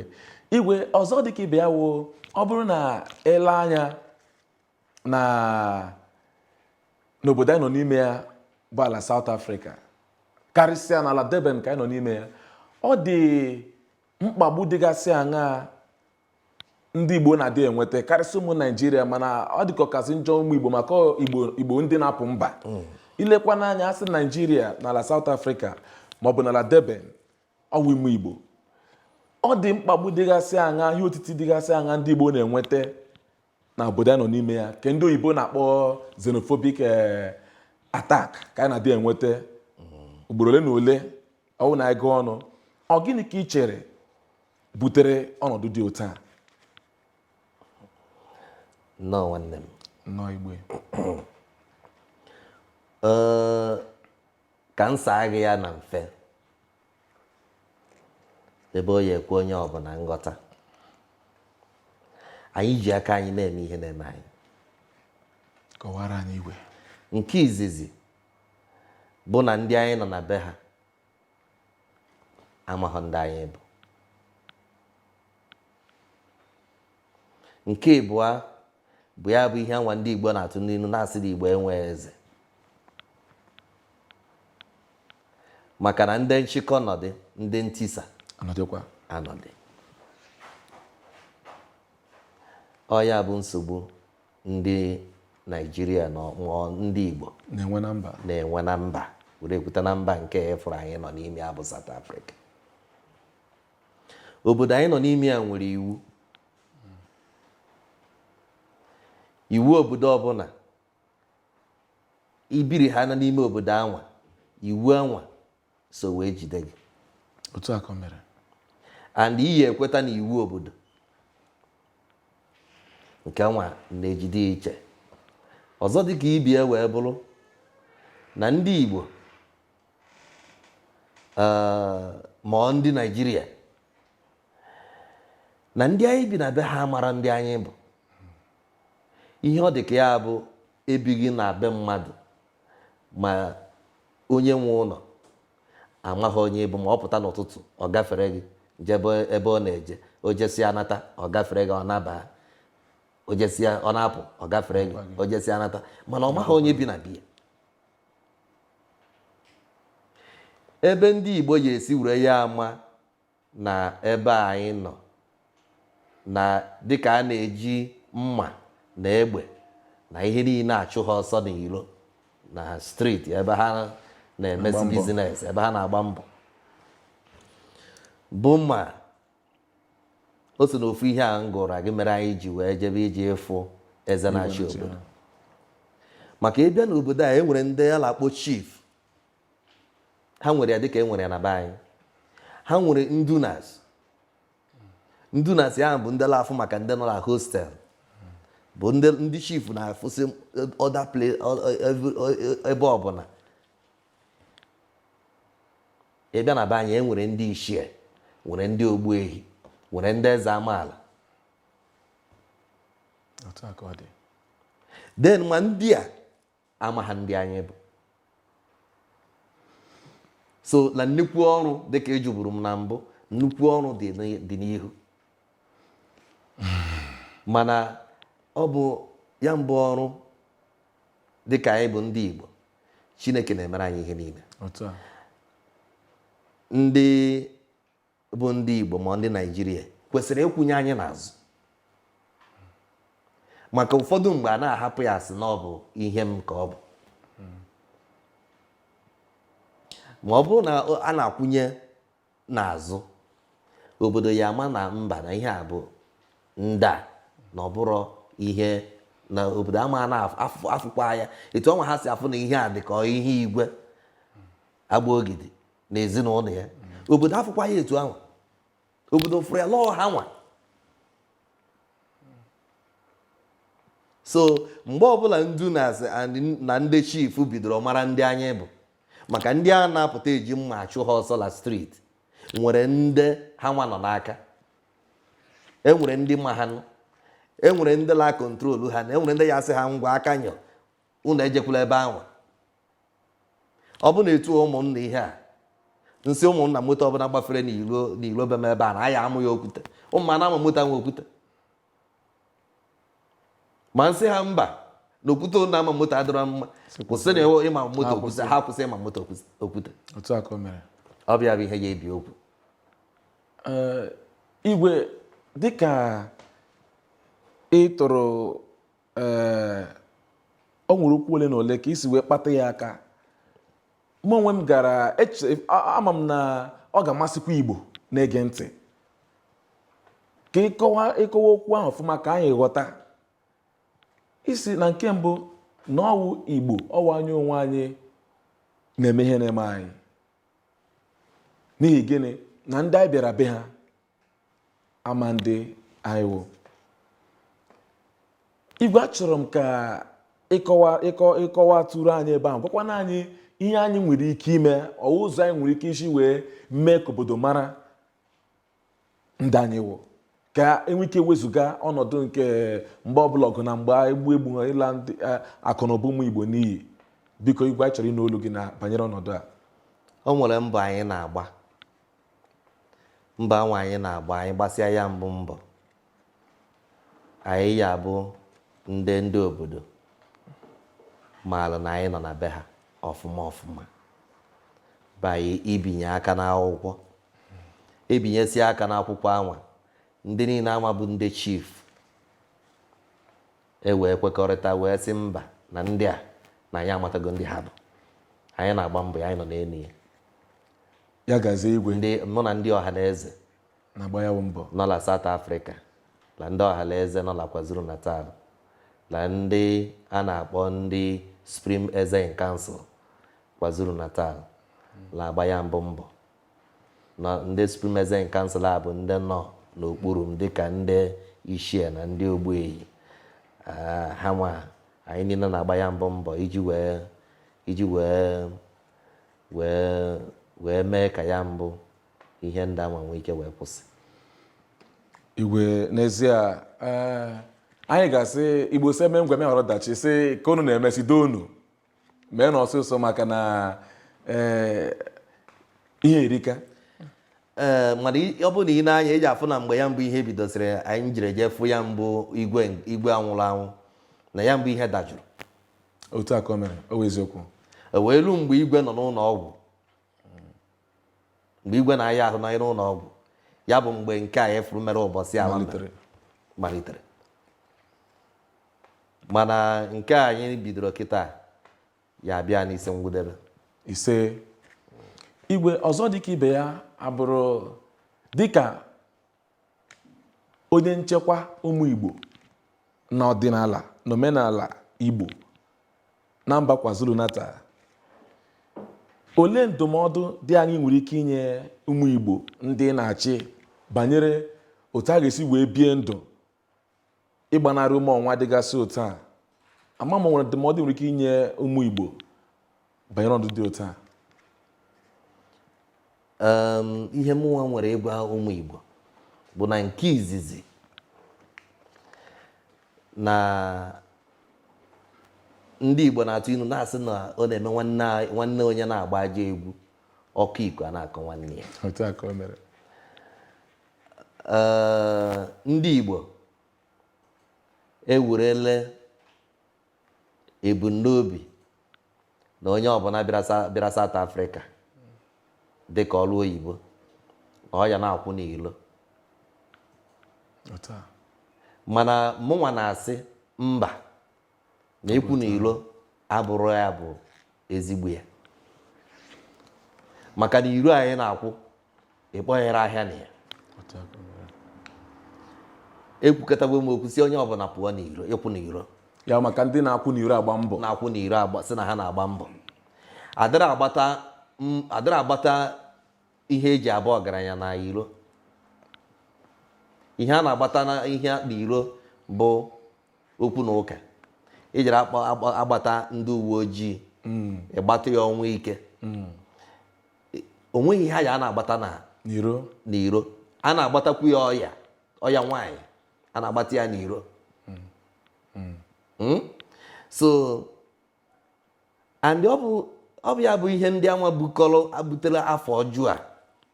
igwe ọzọ dị ka ibe ya wụ ọ bụrụ na i lee anya na n'obodo anyị nọ n'ime ya bụ ala South Africa karịsịa n'ala Durban ka anyị nọ n'ime ya ọ dị mkpagbu dịgasị aṅaa ndị igbo na-adị enweta karịsịa ụmụ naijiria mana ọ dịka ọ kasị njọ ụmụ igbo maka igbo ndị na-apụ mba mm. i lekwaa anya a sị naijiria n'ala South Africa maọbụ n'ala Durban ọ wụ ụmụ igbo ọ dị mkpagbu dịgasị aṅaa ihe otiti dịgasị aṅaa ndị igbo na-enweta na obodo anyị nọ n'ime ya nke ndị oyibo na-akpọ xenophobic eh, attack ka anyị na-adị enweta ugboro ole na ole ọ wụ na ị gụọ ọnụ ọ gịnị ka ị chere butere ọnọdụ dị otu a nnọọ nwanne m nnọọ igwe Ee, ka m saa gị ya na mfe ebe ọ ya-ekwe onye ọbụla nghọta anyị ji aka anyị na-eme ihe na-eme anyị kọwaara anyị igwe nke izizi bụ na ndị anyị nọ na be ha amaghọ ndị anyị bụ nke ịbụa bụ ya bụ ihe anwa ndị Igbo na-atụ n'ilu na-asị na Igbo enwe eze maka na ndị nchịkọ nọdị ndị ntisa anọdịkwa anọdị ọ ya bụ nsogbu ndị naijiria na ndị igbo na-enwe na mba na-enwe na mba were ekwute na mba nke afụrụ anyị nọ n'ime ya bụ South Africa Obodo anyị nọ n'ime ya nwere iwu. Iwu obodo ọbụla i biri ha na n'ime obodo anwa iwu anwa so wee jide gị otu a ka o mere and ị ya-ekweta na iwu obodo nke anwa na-ejide iche ọzọ dịka ibe ya wee bụrụ na ndị Igbo Eh, ma ọ ndị naijiria na ndị anyị bi na be ha mara ndị anyị bụ ihe ọ dị ka ya bụ ibi gị na be mmadụ ma onye nwe ụnọ amaha onye ị bụ ma ọ pụta n'ụtụtụ ọ gafere gị jebe ebe ọ na-eje o jesịa anata ọ gafere gị ọ naba o jesịa ọ na-apụ ọ gafere gị o jesịa anata mana ọ maha onye bi na be ya ebe ndị Igbo ya-esi were ya ama na ebe anyị nọ na dịka a na-eji mma na egbe na ihe niile achụ ha ọsọ n'ilo na street ebe ha na-emesi business ebe ha na-agba mbọ bụ ma o so na ofu ihe a m gụrụ gị mere anyị ji wee jebe iji ịfụ eze na-achị obodo maka ị bịa n'obodo a e nwere ndị a na-akpọ chief ha nwere ya dịka e nwere ya na be anyị ha nwere ndunas ndunas ya bụ ndị na-afụ maka ndị nọ na hostel bụ ndị ndị chief na-afụsị other ebe ọbụla Ị bịa na be anyị, e nwere ndị ichie, nwere ndị ogbuehi, nwere ndị eze amaala. Then ma ndị a amaha ndị anyị bụ. So na nnukwu ọrụ dịka ị jụburu m na mbụ, nnukwu ọrụ dị n'i- dị n'ihu. Mana ọ bụ ya mbụ ọrụ dịka anyị bụ ndị Igbo. chineke na-emere anyị ihe niile ndị bụ ndị igbo ma ndị naijiria kwesịrị ịkwụnye anyị n'azụ maka ụfọdụ mgbe a na-ahapụ ya a sị na ọ bụ ihe m ka ọ bụ ma ọ bụrụ na a na-akwụnye n'azụ obodo ya-ama na mba na ihe a bụ ndị a na ọ bụrọ ihe na obodo ama na-afụkwa ya etu anwa ha si afụ na ihe a dị ka ihe igwe agba ogidi na ezinụnọ ya obodo afụkwa ya etu anwa obodo fụrụ ya la ọ ha nwa so mgbe ọbụla nduna ndị chief bidoro mara ndị anyị bụ maka ndị a na-apụta eji mma achụ ha ọsọ na street nwere ndị ha nwa nọ n'aka enwere ndị ma ha nụ enwere ndị la control ha na enwere ndị ya-asị ha ngwa aka nyọ unu ejekwula ebe anwa ọ bụ na etu ụmụnna ihe a m sị ụmụnna moto ọbụla gbafere n'ilo n'ilo be m ebe a na a ya-ama ya okwute ụmụnna ama moto anwa okwute ma nsị ha mba na okwute na-ama moto adịrọ mma kwụsị na ewe ịma moto okwute ha kwụsị ịma moto okwute ọ bịa bụ ihe ya-ebi okwu igwe dịka ị tụrụ o nwere okwu ole na ole ka i si wee kpata ya aka mụ onwe m gara eche a- ama m na ọ ga-amasịkwa igbo na-ege ntị ka ịkọwa ịkọwa okwu ahụ ọfụma ka anyị ghọta ị sị na nke mbụ na ọwụ igbo ọwụ anyị onwe anyị na-eme ihe na-eme anyị n'ihi gịnị na ndị anyị bịara be ha ama ndị anyị wụ igwe achọrọ m ka ịkọwa ịkọ ịkọwatụrụ anyị ebe ahụ gwakwana anyị ihe anyị nwere ike ime ọ ụzọ anyị nwere ike isi wee mee ka obodo mara ndị anyị wụ ka e nwee ike wezụga ọnọdụ nke mgbe ọbụla ọgụ na mgba egbu egbu ha ịla ndị eh, akụ na ụba ụmụ igbo n'iyi biko igwe anyị chọrọ ịnụ olu gị na banyere ọnọdụ a o nwere mbọ anyị na-agba Mbọ anwa anyị na-agba, anyị gbasịa ya mbụ mbọ, anyị ya-abụ ndị ndị obodo maalụ na anyị nọ na be ha ọfụma ọfụma by ibinye aka n'akwụkwọ e binyesịa aka n'akwụkwọ anwa ndị niile anwa bụ ndị chief e wee kwekọrịta wee sị mba na ndị a na anyị amatago ndị ha bụ anyị na-agba mbọ ya anyị nọ n'elu ya ya gazie igwe mụ na ndị ọha na eze na-agba ya bụ mbọ nọ na South Africa na ndị ọha na eze nọ na KwaZulu Natal na ndị a na-akpọ ndị Supreme Eze in Council KwaZulu Natal na-agba ya mbụ mbọ na ndị Supreme Eze in Council a bụ ndị nọ n'okpuru m dịka ndị ichie na ndị ogbuehi Ah, ha nwa anyị niile na-agba ya mbụ mbọ iji wee iji wee wee wee mee ka ya mbụ ihe ndị anwa nwee ike wee kwụsị igwe n'ezie eh, anyị ga-asị igbo sị e mee ngwa meghara ọdachi sị ka unu na-eme sị doo unu mee na ọsịsọ maka na eh, ihe erika ee eh, mana ọ bụrụ na i nee anya ị ja-afụ na mgbe ya mbụ ihe bidosịrị anyị jiri jee fụ ya mbụ igwe igwe nwụrụ anwụ na ya mbụ ihe dajụrụ otu a ka o mere ọ wụ eziokwu o wee ruo mgbe igwe nọ n'ụlọ ọgwụ mgbe igwe na-aya ahụ n'ime ụlọ ọgwụ ya bụ mgbe nke anyị fụrụ mere ụbọchị ala malitere malitere mana nke a anyị bidoro kịta ya-abịa n'isi ngwụdebe isee igwe ọzọ dịka ibe ya abụrụ dịka onye nchekwa ụmụ Igbo na ọdịnala na omenala Igbo na mba KwaZulu Natal olee ndụmọdụ dị aṅaa ị nwere ike inye ụmụ Igbo ndị ị na-achị banyere otu a ga-esi wee bie ndụ ịgbanarị ume ọnwa dịgasị otu a ama m ma e nwere ndụmọdụ ị nwere ike inye ụmụ Igbo banyere ọnọdụ dị otu a ihe mụnwa nwere ịgwa ụmụ Igbo bụ na nke izizi na ndị Igbo na-atụ ilu na-asị na ọ na-eme nwanne onye na-agba ajọ egwu ọkọ iku a na-akọ nwanne ya Ee, ndị Igbo ewerele ebumnobi na onye ọbụla bịara Sa- bịara South Africa dị ka ọrụ oyibo na ọ ya na-akwụ n'ilo Otu a. mana mụnwa na-asị mba na ịkwụ na iro abụrụ ihe bụ ezigbo ihe maka na iro anyị na-akwụ ịkpọnyere ahịa na ya ekwukatago m okwu sị onye ọbụla pụọ n'iro ịkwụ n'iro ya maka ndị na-akwụ n'iro agba mbọ na-akwụ n'iro agba sị na ha na-agba mbọ adịrị agbata m- adịrị agbata ihe e ji abụ ọgaranya na iro ihe a na-agbata na ihe n'iro bụ okwu na ụka ijere agbata ndị uwe ojii hmm. ịgbata ya ọnwụ ike hmm. o nweghị ihe ya a na-agbata na n'iro a na-agbatakwu ya ọya ọya nwaanyị a na-agbata ya n'iro hmm. so and ọ bụ ọ bụ ya bụ ihe ndị anwa bukọrọ butere afa ọjọọ a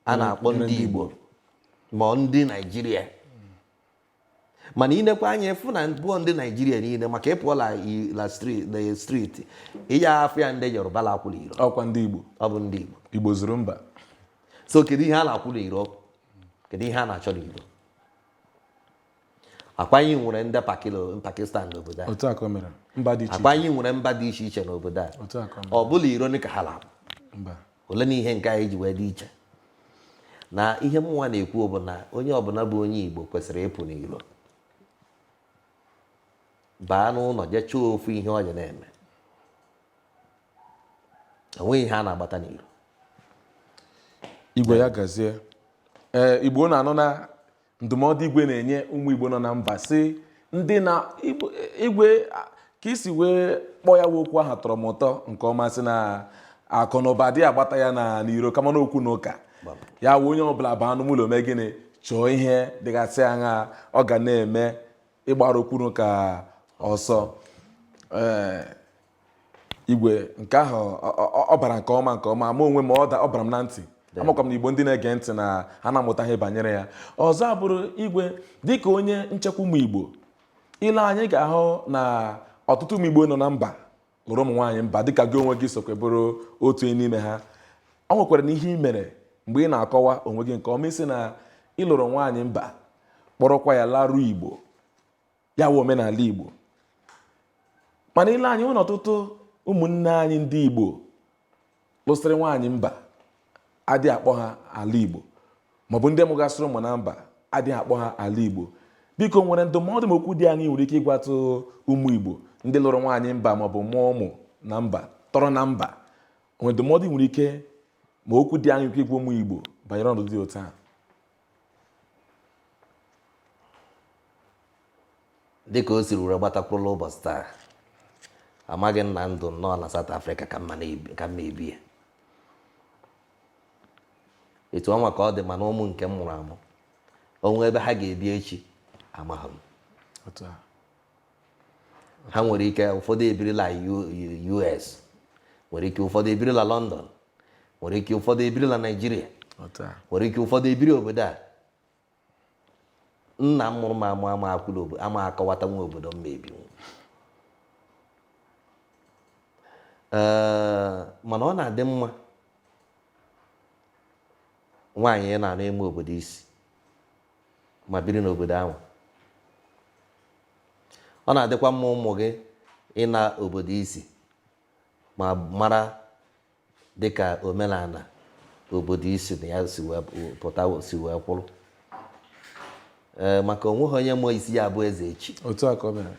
a mm, na-akpọ ndị Igbo ma ndị Naijiria mana i nekwaa anya ị fụ na ọ bụọ ndị Naijiria niile maka ị pụọ la street ị ya afụ ya ndị Yoruba la akwụ la iro ọ kwa ndị Igbo ọ bụ ndị Igbo Igbo zuru mba so kedu ihe a na-akwụ la iro kedu ihe a na-achọ n'iro ọ kwa anyị nwere ndị Pakistan n'obodo a ọ kwa anyị nwere mba dị iche iche n'obodo a ọ bụ la iro ka ha na-abụ olee nụ ihe nke anyị ji wee dị iche na ihe mụnwa na-ekwu bụ na onye ọbụla bụ onye Igbo kwesịrị ịpụ n'iro baa n'ụlọ jee chọọ ofu ihe ọ ya na-eme o nweghị ihe a na-agbata n'iro igwe ya gazie ee eh, Igbo unu anụna ndụmọdụ igwe na-enye ụmụ igbo nọ na mba si ndị na igwe ka i si wee kpọọ ya okwu ahụ tọrọ m ụtọ nke ọma sị na akụ na ụba adị agbata ya na n'iro kama na okwu na ụka ya wụ onye ọbụla baa n'ime ụlọ mee gịnị chọọ ihe dịgasị aṅaa ọ ga na-eme ịgbara okwu na ụka ọsọ ee igwe nke ahụ ọ bara nke ọma ma onwe m ọ bara m na ntị amakwa m na igbo ndị na-ege ntị na ha na-amụta ihe banyere ya ọzọ abụrụ igwe dịka onye nchekwa ụmụ igbo i lee anya ị ga-ahụ na ọtụtụ ụmụ igbo nọ na mba lụrụ ụmụ nwaanyị mba dịka gị onwe gị sokwa bụrụ otu n'ime ha o nwekwara na ihe ị mere mgbe ị na-akọwa onwe gị nke ọma ị sị na ị lụrụ nwaanyị mba kpọrọkwa ya laruo igbo ya wụ omenala Igbo mana i lee anya e nwere ọtụtụ ụmụnne anyị ndị Igbo lụsịrị nwaanyị mba adị akpọ ha ala Igbo maọbụ ndị mụgasịrị ụmụ na mba adị akpọ ha ala Igbo biko o nwere ndụmọdụ ma okwu dị aṅaa i nwere ike ịgwatụ ụmụ Igbo ndị lụrụ nwaanyị mba maọbụ mụọ ụmụ na mba tọrọ na mba o nwere ndụmọdụ i nwere ike ma okwu dị aṅaa ike ịgwa ụmụ Igbo banyere ọnọdụ dị otu a dịka o siri were gbata kwụrụ la ụbọchị taa amaghị m na ndụ m na ọ na South Africa ka m ma ebi ya etu ọnwa ka ọ dị mana ụmụ nke m mụrụ amụ onwe ebe ha ga-ebi echi amaghị m ha nwere ike ụfọdụ ebiri la US nwere ike ụfọdụ ebiri la London nwere ike ụfọdụ ebiri la naijiria nwere ike ụfọdụ ebiri obodo a nna m mụrụ m amụ ama akọwatanwu obodo m ma ebi mana ọ na-adị mma nwaanyị ị na-anụ ịma obodo i si ma biri n'obodo ahụ ọ na-adịkwa mma ụmụ gị ịna obodo i si ma mara dịka omenala obodo i si na ya si wee pụta si wee kwụrụ ee maka onweghị onye ma isi ya-abụ eze echi otu a ka o mere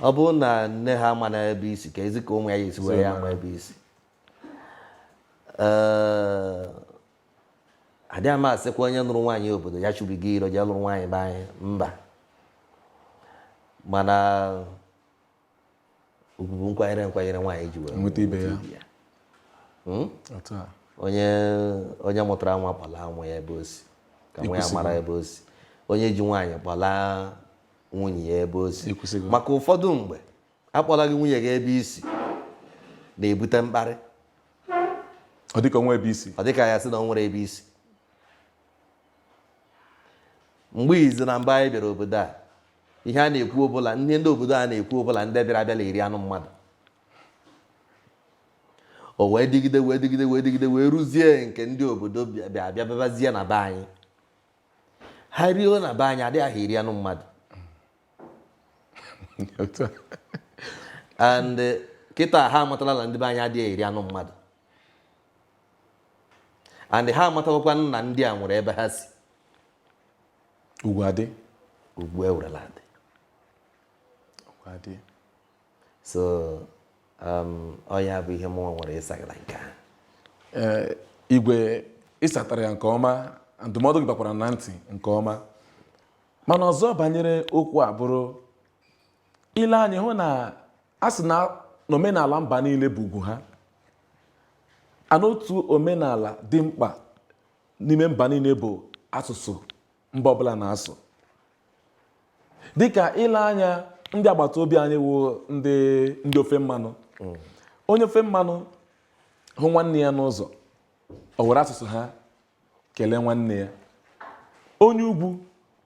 ọ bụrụ na nne ha ama na ebe i si kee zi ka ụmụ ya ya-esi wee ya-ama ebe i si ee adịghị m asịkwa onye nụrụ nwaanyị obodo ya chụbigo iro jee lụrụ nwaanyị be anyị mba mana ugwu bụ nkwanyere nkwanyere nwaanyị ji wee nweta ibe ya hmm? onye onye mụtara nwa kpọla nwa ya ebe o si ka nwa ya mara ebe o si onye ji nwaanyị kpọla nwunye ya ebe o si maka ụfọdụ mgbe akpọlaghị nwunye gị ebe i si na-ebute mkparị ọ dịka o nwe ebe i si ọ dịka ya sị na o nwere ebe i si mgbe izi na mba anyị bịara obodo a ihe a na-ekwu ọ bụ na ihe ndị obodo a na-ekwu ọ bụ na ndị bịara abịa na-eri anụ mmadụ o wee dịgide wee dịgide wee dịgide wee ruzie nke ndị obodo bịa bịa bịabazie na be anyị ha rio na be anyị adịghị ahụ eri anụ mmadụ and eh, kịta ha amatala na ndị be anyị adịghị eri anụ mmadụ and ha amatakwa na ndị a nwere ebe ha si ugwu adị ugwu ewerela adị ugwu adị so um, ọ ya bụ ihe mụnwa nwere ịsagara nke ahụ eh, igwe ị satara ya nke ọma ndụmọdụ gị bakwara na ntị nke ọma mana ọzọ banyere okwu a bụrụ i lee anya ị hụ na a sị na omenala mba niile bụ ugwu ha and otu omenala dị mkpa n'ime mba niile bụ asụsụ mba ọbụla na-asụ dịka i lee anya ndị agbata obi anyị wụ ndị ndị ofe mmanụ onye ofe mmanụ hụ nwanne ya n'ụzọ o were asụsụ ha kelee nwanne ya onye ugwu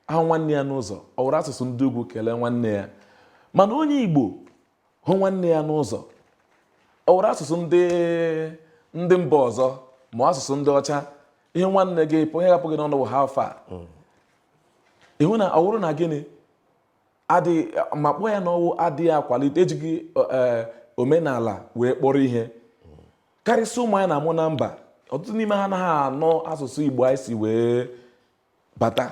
ahụ nwanne ya n'ụzọ o were asụsụ ndị ugwu kelee nwanne ya mana onye igbo hụ nwanne ya n'ụzọ o were asụsụ ndị ndị mba ọzọ ma asụsụ ndị ọcha ị hụ nwanne gị ihe ga-apụ gị n'ọnụ bụ how far ị hụ na ọ wụrụ na gịnị adịghị ma kpọọ ya na ọ wụ adịghị akwalite ejighị e, omenala wee kpọrọ ihe karịsịa ụmụ anyị na-amụ na mba ọtụtụ n'ime ha anaghị anụ asụsụ igbo anyị si wee bata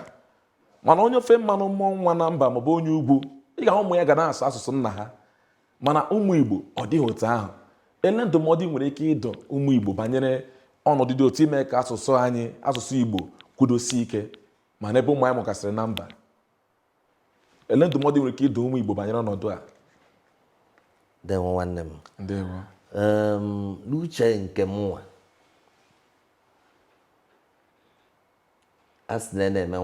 mana onye ofe mmanụ mụọ nwa na mba maọbụ onye ugwu ị ga-ahụ ụmụ ya ga na-asụ asụsụ nna ha mana ụmụ igbo ọ dịghị otu ahụ elee ndụmọdụ i nwere ike ịdụ ụmụ igbo banyere ọnọdụ dị otu ime ka asụsụ anyị asụsụ igbo kwudosie ike ma n'ebe ụmụ anyị mụgasịrị na mba elee ndụmọdụ i nwere ike ịdụ ụmụ igbo banyere ọnọdụ a ndewo nwanne m ndewo n'uche nke mụnwa a sị na ya na-eme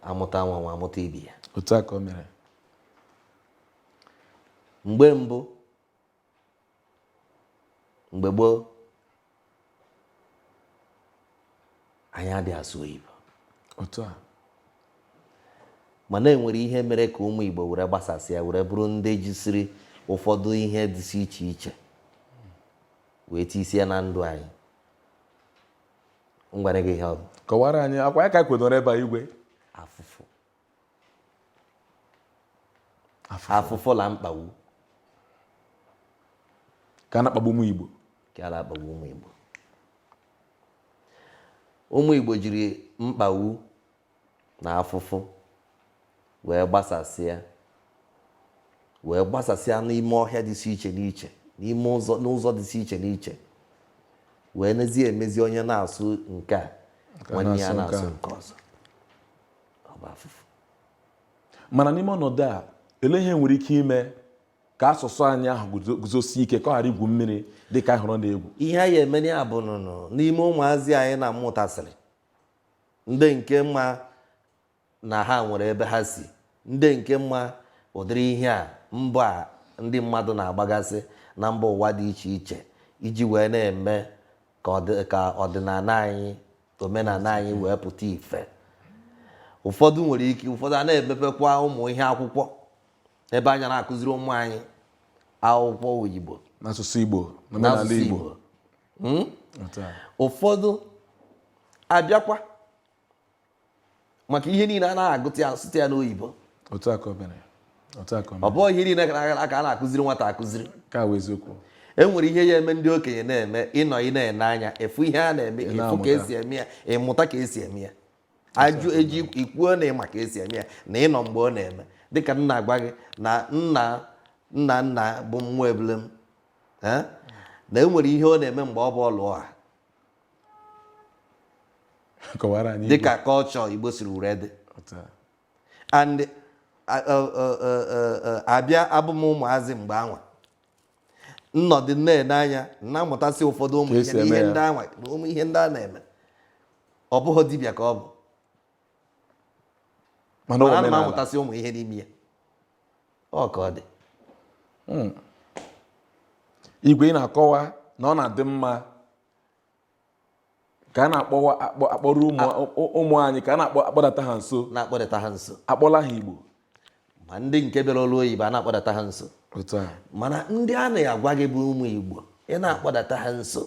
amụta nwa nwa amụta ibe ya otu a ka o mere mgbe mbụ mgbe gboo anyị adịghị asụ oyibo otu a mana enwere ihe mere ka ụmụ Igbo were gbasasịa were bụrụ ndị jisiri ụfọdụ ihe dịsị iche iche wee tisie na ndụ anyị ngwara gị ihe ọ bụ kọwara anyị akwa ya ka anyị kwedoro ebe a igwe afụfụ afụfụ la mkpagbu ka a na-akpagbu ụmụ igbo ka a na-akpagbu ụmụ igbo ụmụ igbo jiri mkpagbu na afụfụ wee gbasasịa wee gbasasịa n'ime ọhịa dịsị iche n'iche n'ime ụzọ n'ụzọ dịsị iche n'iche wee nezie emezi onye na-asụ nke a nwanne ya na-asụ nke ọzọ ọ bụ afụfụ mana n'ime ọnọdụ a ele ihe nwere ike ime ka asụsụ anyị ahụ guzosie ike ka ọ ghara igwu mmiri dị ka anyị hụrụ ọ na-egwu ihe a ya-emere ya bụ nụnụ n'ime ụmụazị anyị na-amụtasịrị ndị nke ma na ha nwere ebe ha si ndị nke ma ụdịrị ihe a mbọ a ndị mmadụ na-agbagasị na mba ụwa dị iche iche iji wee na-eme ka ọdịnala anyị omenala anyị wee pụta ife ụfọdụ nwere ike ụfọdụ a na-emepekwa ụmụ ihe akwụkwọ ebe a ya na-akụziri ụmụ anyị akwụkwọ oyibo n'asụsụ igbo n'omenala igbo hmm? ụfọdụ abịakwa maka ihe niile a na-agụta ya asụta ya n'oyibo ọ bụghị ihe niile ka a na-akụziri nwata akụziri e nwere ihe a ya-eme ndị okenye na-eme ị nọ ị na-ene anya ị fụ ihe a na-eme ị fụ ka esi eme ya ị mụta ka esi eme ya a jụọ gị ị kwuo na ị ma ka esi eme ya na ị nọ mgbe ọ na-eme dịka m na-agwa gị na nna nna nna bụ nwa ebule m na e nwere ihe ọ na-eme mgbe ọ bụ ọlụ ọha dịka culture Igbo siri were dị and abịa abụ m ụmụazị mgbe anwa m nọdụ na-ene anya na-amụtasị ụfọdụ ụmụ ihe ndị anwa ụmụ ihe ndị a na-eme ọ bụghị dibịa ka ọ bụ mana ana m amụtasị ụmụ ihe n'ime ya ọ ka ọ dị hmm. igwe ị na-akọwa na ọ na-adị mma ka a na-akpọrọ ụmụ anyị ka a na-akpọdata ha nso na-akpọdata ha nso akpọla ha igbo ma ndị nke bi n'ala oyibo a na-akpọdata ha nso mana ndị a na-agwa gị bụ ụmụ igbo ị na-akpọdata ha nso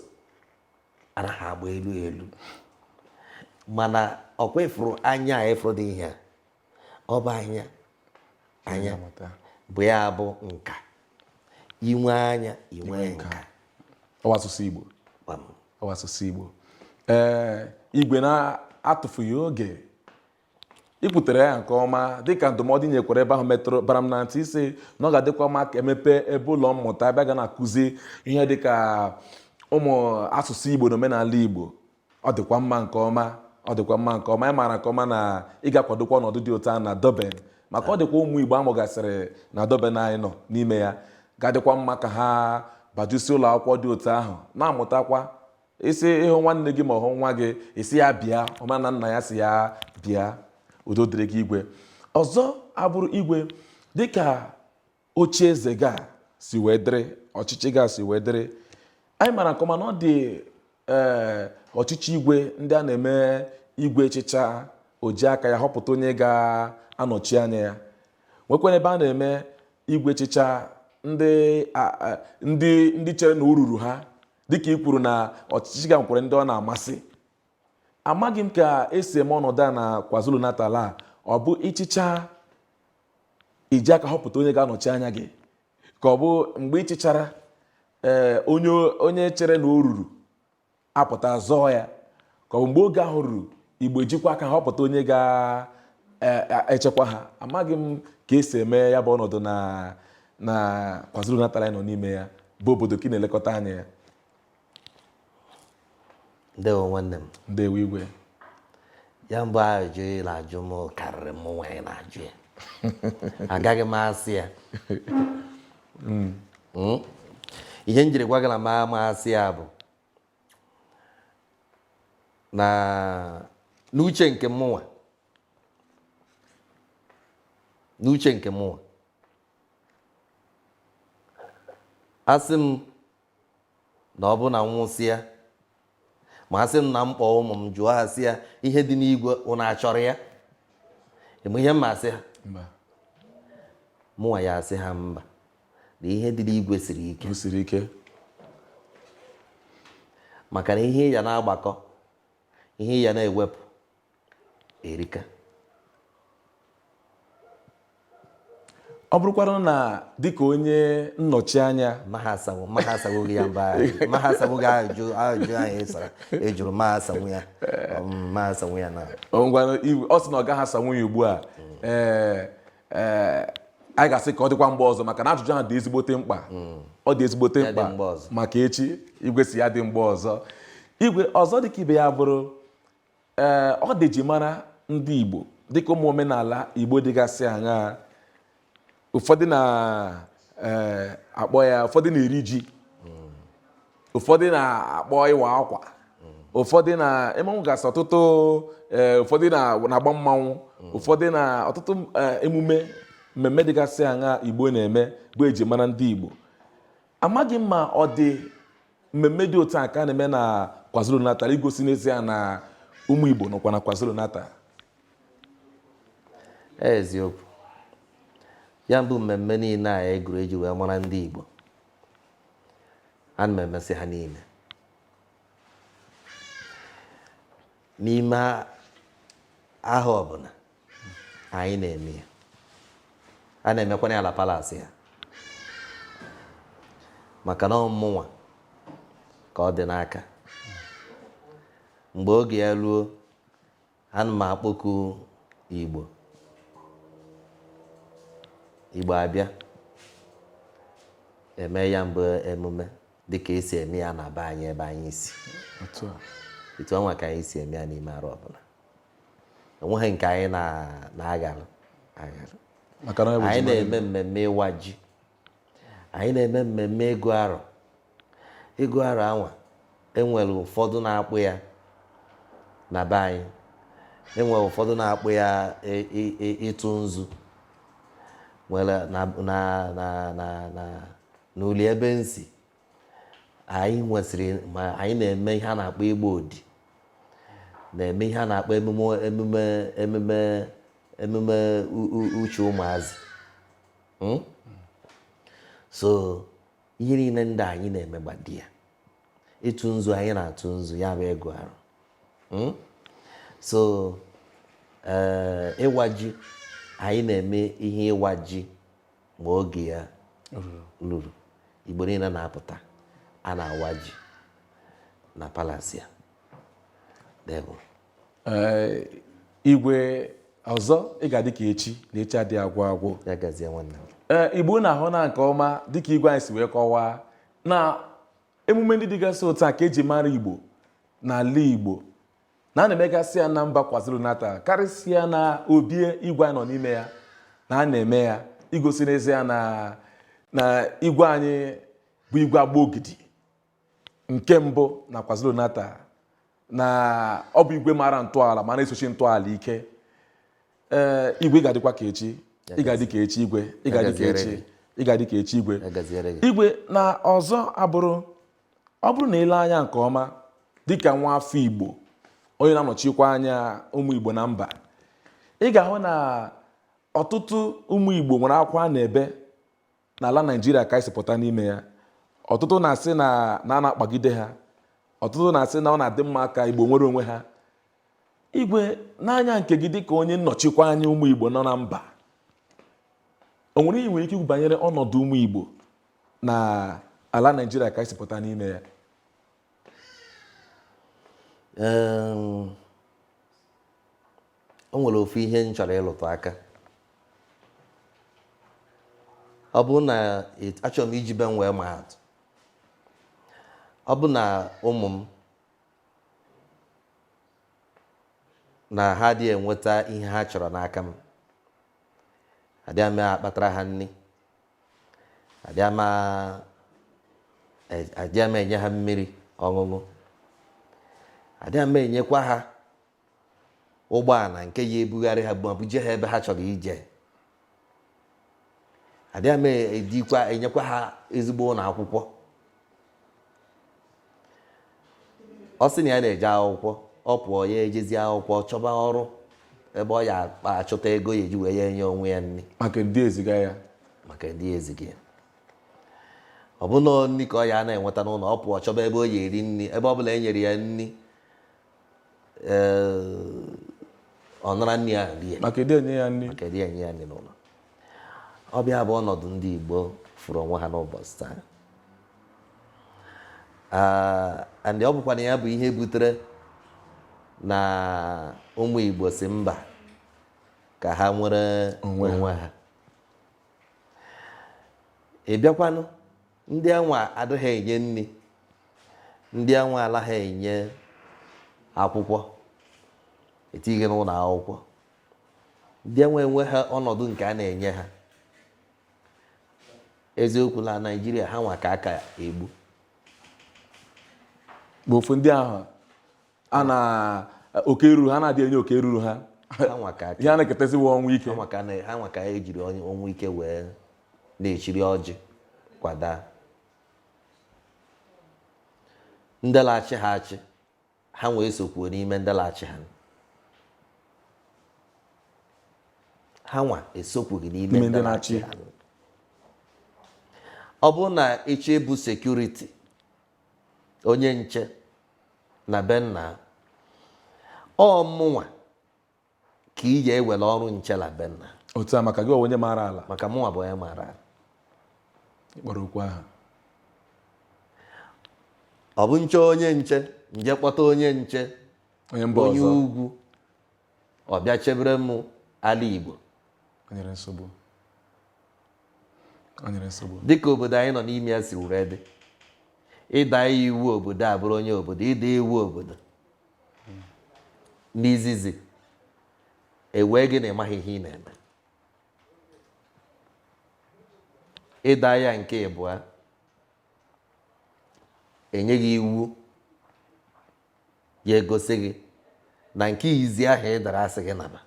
anaghị agba elu elu mana ọkwa ị fụrụ anya a ị fụrụ dị ihe a ọ bụ anya anya bụ ya bụ nka inwe anya inwe nka ọwa asụsụ Igbo ọwa asụsụ Igbo ee igwe na-atụfughị oge i kwutere ya nke ọma dịka ndụmọdụ nyekwara ebe ahụ metụrụ bara m na ntị ị sị na ọ ga-adịkwa mma ka e mepe ebe ụlọ mmụta ebe a ga na-akụzi ihe dịka ụmụ asụsụ igbo na omenala igbo ọ dịkwa mma nke ọma ị maara nke ọma na ị ga-akwadokwa ọnọdụ dị otu a na Durban maka ọ dịkwa ụmụ igbo a mụgasịrị na Durban anyị nọ n'ime ya ga-adịkwa mma ka ha bajusi ụlọ akwụkwọ dị otu ahụ na-amụtakwa ị sị ị hụ nwanne gị ma ọ bụ nwa gị ị sị ya bịa ọ ma na nna ya sị ya bịa udo dịrị gị igwe ọzọ abụrụ igwe dịka oche eze ga-esi wee dịrị ọchịchị ga-esi wee dịrị anyị mara nke ọma na ọ dị ee eh, ọchịchị igwe ndị a na-eme igwe chịchaa o ji aka ya họpụta onye ga-anọchi anya ya nwekwara ebe a na-eme igwe chịchaa ndị ndị ndị chere na o ruru ha dịka i kwuru na ọchịchị ga nkwere ndị ọ na-amasị amaghị m ka e si eme ọnọdụ a na kwazulu natal a ọ bụ ị chịchaa i ji aka họpụta onye ga-anọchi anya gị ka ọ bụ mgbe ị chịchara ee eh, onye chere na o ruru apụta zọọ ya ka ọ bụ mgbe oge ahụ ruru igbo ejikwa aka ha họpụta onye ga-echekwa e, e, ha amaghị m ka e si eme ya bụ ọnọdụ na kwazulu natal a anyị nọ n'ime ya bụ obodo ka ị na-elekọta anya ya ndewo nwanne m ndewo igwe ya bụ ajụ ị na-ajụ m karịrị mụnwa ị na-ajụ ya agaghị m asa ya hmm. Hmm? ihe m jiri gwa gị na m ama asa ya bụ na n'uche nke mụnwa n'uche nke mụnwa asị m na ọ bụ na m nwụsịa ma asị m na m kpọọ ụmụ m jụọ ha sị ya ihe dị n'igwe ụnụ achọrọ ya ị ma ihe m ma-asị ha mụnwa ya-asị ha mba na ihe dị n'igwe siri ike o siri ike maka na ihe ị ya na-agbakọ ihe ị ya na-ewepụ erika ọ bụrụkwara na dịka onye nnọchi anya maha asanwu maha asanwu gị ya mba maha asanwu gị ajụ ajụ anyị ịsara ejụrụ maha asanwu ya maha asanwu ya na ọ ngwara iwu- ọ sị na ọ gaghị asanwu ya ugbu a ee ee anyị ga-asị ka ọ dịkwa mgbe ọzọ maka na ajụjụ ahụ dị ezigbote mkpa hmm. ọ dị ezigbote mkpa maka echi igwe sị ya dị mgbe ọzọ igwe ọzọ dịka ibe ya bụrụ ee ọ dị ihe eji mara ndị Igbo dịka ụmụ omenala Igbo dịgasị aṅaa ụfọdụ na-akpọ ya ụfọdụ na-eri ji ụfọdụ na-akpọ ịwa akwa ụfọdụ na-emenwugasị ọtụtụ eh, ụfọdụ na-agba mmanwụ ụfọdụ na ọtụtụ eh, emume mmemme dịgasị aṅa igbo na-eme bụ eji mara ndị igbo amaghị m ma ọ dị mmemme dị otu a ka a na-eme na kwazulu natal igosi n'ezie na ụmụ igbo nọkwa na kwazulu natal eziokwu ya bụ mmemme niile a ị gụrụ eji wee mara ndị igbo ana m emesị ha niile n'ime ahọ ọbụla anyị na-eme ya a na-emekwanụ ya na palace a maka na ọ mụnwa ka ọ dị n'aka mgbe oge ya ruo ana m akpọku igbo igbo abịa eme ya mbụ emume dịka esi eme ya na be anyị ebe anyị si etu ọnwa ka anyị si eme ya n'ime arọ ọbụla enweghị nke anyị na-agharụ agharụ anyị na-eme mmemme ịwa ji anyị na-eme mmemme ịgụ arọ ịgụ arọ anwa enwere ụfọdụ na-akpọ ya na be anyị enwere ụfọdụ na-akpọ ya ị- ị- ị- ịtụ nzu nwere na na na na na n'uli ebe m si anyị nwesịrị ma anyị na-eme ihe a na-akpọ ịgba odi na-eme ihe a na-akpọ emume emume emume emume u- u- uche ụmụazị hmm? so ihe niile ndị a anyị na-emegbado ya ịtụ nzu anyị na-atụ nzu ya bụ ịgụ arọ hmm? so eh, ịwa ji anyị na-eme ihe ịwa ji ma oge ya luru igbo niile na-apụta a na-awa ji na palace a igwe ọzọ ị ga-adị ka echi na echi adịghị agwụ agwụ ee igbo unu ahụna nke ọma dịka igwe anyị si wee kọwaa na emume ndị dịgasị otu a ka eji mara igbo n'ala igbo na a na-emegasị ya na mba kwazulu natal karịsịa na obi a igwe anyị nọ n'ime ya na a na-eme ya igosi n'ezie na na igwe anyị bụ igwe agba ogidi nke mbụ na KwaZulu-Natal na ọ bụ igwe mara ntọala ma na-esochi ntọala ike ee igwe ị ga-adịkwa ka echi ị ga-adị ka echi igwe ị ga-adị ka echi ị ga-adị ka echi igwe igwe na ọzọ abụrụ ọ bụrụ na i lee anya nke ọma dịka nwa afọ Igbo onye na-anọchikwa anya ụmụ Igbo na mba ị ga-ahụ na ọtụtụ ụmụ Igbo nwere akwa na-ebe N'ala Naijiria ka anyị si pụta n'ime ya, ọtụtụ na-asị na na a na-akpagide ha, ọtụtụ na-asị na ọ na-adị mma ka Igbo nwere onwe ha. Igwe, n'anya nke gị dịka onye nnọchikwa anya ụmụ Igbo nọ na mba, o nwere ihe i nwere ike ikwu banyere ọnọdụ ụmụ Igbo na ala Naijiria ka anyị si pụta n'ime ya? Em, o nwere ofu ihe m chọrọ ịlụtụ aka ọ bụ na it- achọrọ m iji be m wee maa atụ ọ bụ na ụmụ m na ha adị enweta ihe ha chọrọ n'aka m adịa m akpatara ha nri adịa m a- e- adịa m enye ha mmiri ọṅụṅụ adịa m enyekwa ha ụgbọala nke ya ebugharị ha ma buje ha ebe ha chọrọ ije adịa m enyekwa ha ezigbo ụlọ akwụkwọ ọ sị na ya na-eje akwụkwọ ọ pụọ ya ejezi akwụkwọ chọba ọrụ ebe ọ ya akpa achọta ego ya eji wee ya enye onwe ya nri maka ndị eziga ya maka ndị eziga ya ọ bụ na nri ka ọ ya na-enweta n'ụlọ ọ pụọ chọba ebe o ya eri nri ebe ọ bụla e nyere ya nri ọ nara nri ahụ rie maka adị enye ya nri maka adị enye ya nri n'ụlọ ọ bụ ya bụ ọnọdụ ndị Igbo fụrụ onwe ha n'ụbọchị taa and ọ bụkwanụ ya bụ ihe butere na ụmụ Igbo sị mba ka ha nwere onwe ha ị bịakwanụ ndị anwa adịghị enye nri ndị anwa alaghị enye akwụkwọ etighi n'ụlọ akwụkwọ ndị anwa enweha ọnọdụ nke a na-enye ha eziokwu na naijiria ha nwa ka a ka egbu bụ ofu ndị ahụ a na oke ruru ha na adị enye oke ruru ha ha nwa ka ihe a na-eketezi wa ọnwụ ike ha nwa ka na- ha nwa ka ejiri onye- ọnwụ ike wee na-echiri ọjị kwada ndị la-achị ha achị ha nwa esokwughị n'ime ndị la-achị ha ha nwa esokwughị n'ime ndị na-achị ha ọ bụrụ na ị chọọ ịbụ sekuriti onye nche na be nna ọ mụnwa ka ị ya-ewere ọrụ nche na be nna otu a maka gị onye maara ala maka mụnwa bụ onye maara ala ị kpọrọ okwu aha ọ bụ nche onye nche m je kpọta onye nche onye mba ọzọ onye ugwu ọ bịa chebere m ala Igbo O nwere nsogbu. O nwere nsogbu. dịka obodo anyị nọ n'ime ya si were dị ị daa iwu obodo abụrọ onye obodo ị daa iwu obodo n'izizi e wee gị na ị maghị ihe ị na-eme ị daa ya nke ịbụa e nye gị iwu ya egosi gị na nke izi ahụ ị dara a sị gị naba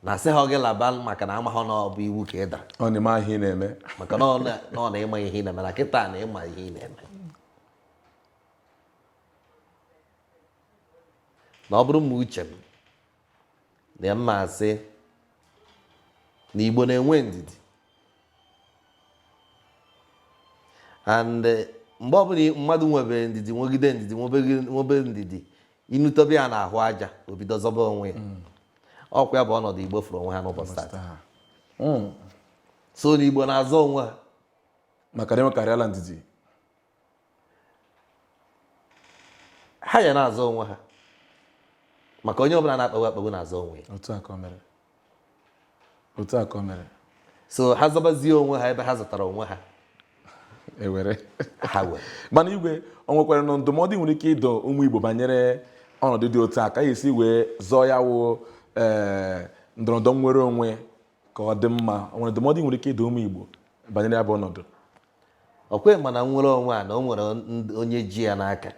na a sị haa gị laba maka na amaghọ na ọ bụ iwu ka ị dara ọ na-eme ihe ị na-eme maka na ọ na ị ma ihe ị na-eme na kịta na ị ma ihe ị na-eme na ọ bụrụ ma uche m na m ma-asị na Igbo na-enwe ndidi and eh, mgbe ọbụla mmadụ nwebe ndidi nwegide ndidi nwebe ndidi i nutobe ya n'ahụ aja o bido zọba onwe ya hmm. ọkwa ya bụ ọnọdụ Igbo fụrụ onwe ha n'ụbọchị taa hmm. so na Igbo na-azọ onwe ha maka na enwekarịala ndidi ha ya na-azọ onwe ha maka onye ọbụla a na-akpagbu akpagbu na-azọ onwe ya otu a ka o mere otu a ka o mere so ha zọbazie onwe ha ebe ha zọtara onwe ha ewere ha were mana igwe o nwekwara na ndụmọdụ ị nwere ike ịdụ ụmụ Igbo banyere ọnọdụ dị otu a ka a ya-esi wee zọọ ya wụ ee ndọrọndọrọ nnwere onwe ka ọ dị mma o nwere ndụmọdụ ị nwere ike ịdụ ụmụ Igbo banyere ya bụ ọnọdụ okay mana nnwere onwe a na o nwere onye ji ya n'aka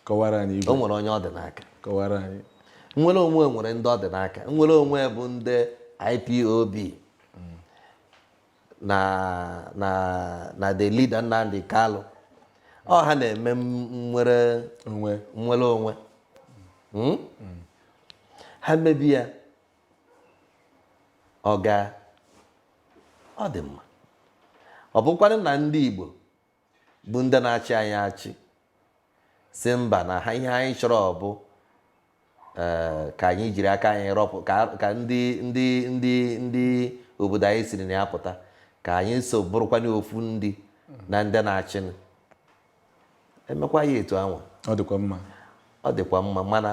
kọwara anyị o nwere onye ọ dị n'aka kọwara anyị nnwere onwe o nwere ndị ọ dị n'aka nnwere onwe bụ ndị IPOB na na na the leader Nnamdi Kalu ọ ha na-eme nnwere onwe nnwere onwe hmm? ha mebe ya Ọ gaa, ọ dị mma. Ọ bụkwanụ na ndị Igbo bụ ndị na-achị anyị achị sị mba na ha ihe anyị chọrọ ọ bụ eh, ka anyị jiri aka anyị rọpụ ka ka ndị ndị ndị ndị obodo anyị siri na ya pụta ka anyị so bụrụkwanụ ofu ndị na ndị na-achịnụ emekwa ya etu anwa ọ dịkwa mma ọ dịkwa mma mana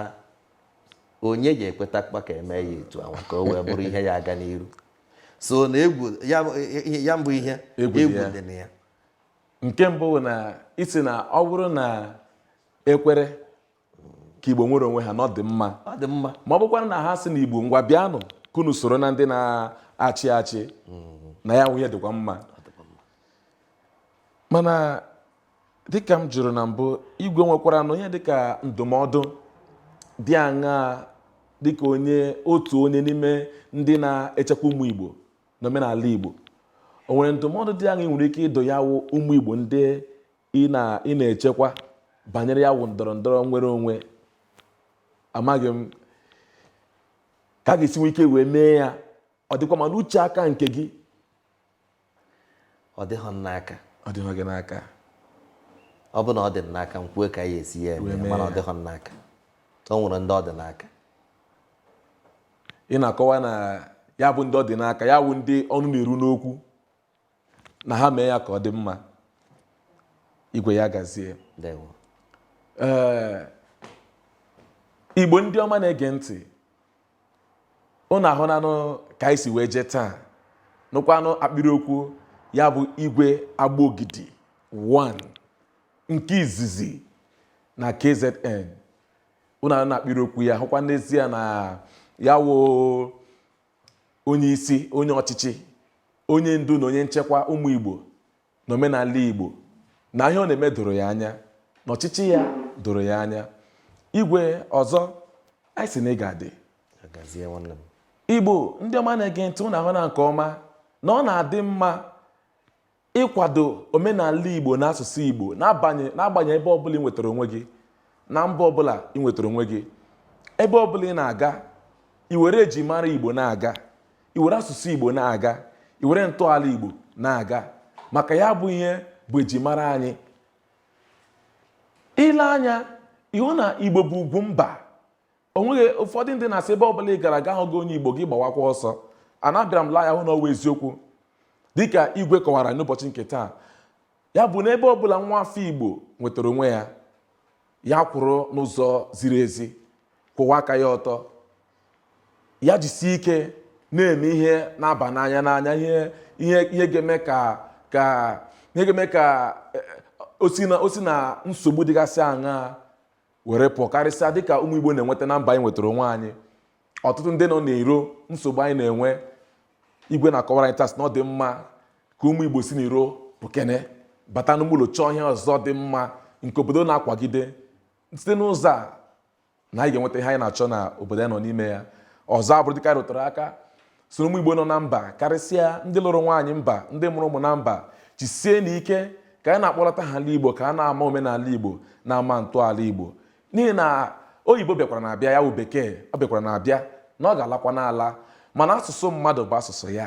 onye ji ekwetakwa ka eme ya etu anwa ka o wee bụrụ ihe ya-aga n'iru so na egwu ya mbụ ihe egwu dị na ya nke mbụ bụ na ị sị na ọ bụrụ na e kwere ka Igbo nwere onwe ha na ọ dị mma ma ọ bụkwara na ha sị na Igbo ngwa bịanụ ka unu soro na ndị na-achị achị na ya wụ ihe dịkwa mma mana dịka m jụrụ na mbụ igwe e nwekwaranụ ihe dịka ndụmọdụ dị aṅaa dịka onye otu onye n'ime ndị na-echekwa ụmụ Igbo na omenala Igbo o nwere ndụmọdụ dị aṅaa i nwere ike ịdụ ya wụ ụmụ Igbo ndị ị na- ị na-echekwa banyere ya wụ ndọrọ ndọrọ nnwere onwe amaghị m ka a ga-esi nwee ike wee mee ya ọ dịkwa mma n'uche aka nke gị ọ dịghị m n'aka ọ dịghị gị n'aka ọ bụ na ọ dị m n'aka m kwuo ka a ya-esi ya eme mana ọ dịghị m n'aka o nwere ndị ọ dị n'aka ị na-akọwa na ya bụ ndị ọ dị n'aka ya wụ ndị ọnụ na-eru n'okwu na ha mee ya ka ọ dị mma igwe ya gazie ndewo ee igbo ndị ọma na-ege ntị ụnụ ahụnanụ ka anyị si wee jee taa nụkwanụ akpịrị okwu ya bụ igwe agbogidi 1 nke izizi na kzn ụnụ ahụna akpịrị okwu ya hụkwa n'ezie na ya wụ onye isi, onye ọchịchị, onye ndu na onye nchekwa ụmụ Igbo na omenala Igbo na ihe ọ na-eme doro ya anya na ọchịchị ya doro ya anya igwe ọzọ anyị sị na ị ga-adị Ya gazie nwanne m. igbo ndị ọma na-ege ntị ụnụ ahụna nke ọma na ọ na-adị mma ịkwado omenala Igbo na asụsụ Igbo n'agbanyeghị ebe ọbụla ị nwetara onwe gị na mba ọbụla ị nwetara onwe gị ebe ọbụla ị na-aga i were ejimara Igbo na-aga i were asụsụ Igbo na-aga i were ntọala Igbo na-aga maka ya bụ ihe bụ ejimara anyị i lee anya ị hụ na Igbo bụ ugwu mba o nwere ụfọdụ ndị na-asị ebe ọbụla ị gara aga ahụghị onye igbo gị gbawakwa ọsọ na abịara m lee anya hụ na ọ wụ eziokwu dịka igwe kọwara n'ụbọchị nke taa ya bụ na ebe ọbụla nwa afọ igbo nwetara onwe ya ya kwụrụ n'ụzọ ziri ezi kwụwa aka ya ọtọ ya jisie ike na-eme ihe na-aba n'anya n'anya ihe ihe ga-eme ka ka ihe ga-eme ka eh, o si na nsogbu dịgasị aṅaa were pụọ karịsịa dịka ụmụ Igbo na-enweta na mba anyị nwetara onwe anyị ọtụtụ ndị nọ n'iro nsogbu anyị na-enwe igwe na-akọwara anyị taa sị na ọ dị mma ka ụmụ Igbo si n'iro pụkene bata n'ime ụlọ chọọ ihe ọzọ dị mma nke obodo na-akwagide site n'ụzọ a na anyị ga-enweta ihe anyị na-achọ na obodo anyị nọ n'ime ya ọzọ abụrụ dịka anyị rụtara aka sị na ụmụ igbo nọ na mba karịsịa ndị lụrụ nwaanyị mba ndị mụrụ ụmụ na mba jisienụ ike ka anyị na-akpọlata ha ala igbo ka a na-ama omenala igbo na-ama ntọala igbo n'ihi na oyibo bịakwaranụ abịa ya wụ bekee ọ bịakwaranụ abịa na ọ ga-alakwanụ ala mana asụsụ mmadụ bụ asụsụ ya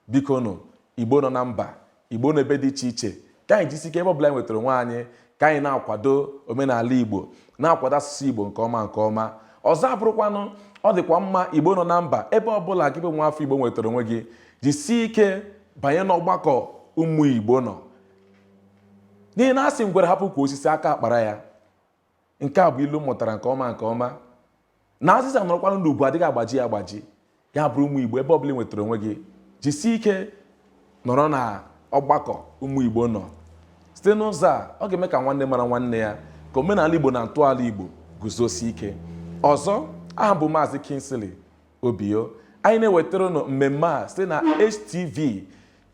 bikonụ igbo nọ na mba Igbo n'ebe dị iche iche ka anyị jisi ike ebe ọbụla anyị nwetara onwe anyị ka anyị na-akwado omenala Igbo na-akwado asụsụ Igbo nke ọma nke ọma ọzọ abụrụkwanụ ọ dịkwa mma Igbo nọ na mba ebe ọbụla gị bụ nwa afọ Igbo nwetara onwe gị jisie ike banye n'ọgbakọ ụmụ Igbo nọ n'ihi na a sị ngwere hapụ ukwu osisi aka akpara ya nke a bụ ilu m mụtara nke ọma nke ọma na azịza nọrọkwanụ n'ukwu adịghị agbaji ya agbaji ya bụrụ ụmụ igbo ebe ọbụla ị nwetara onwe gị jisie ike nọrọ na ọgbakọ ụmụ igbo nọ site n'ụzọ a ọ ga-eme ka nwanne mara nwanne ya ka omenala igbo na ntọala igbo guzosie ike ọzọ aha m bụ maazị Kingsley Obio anyị na-ewetara ụnụ mmemme a site na HTV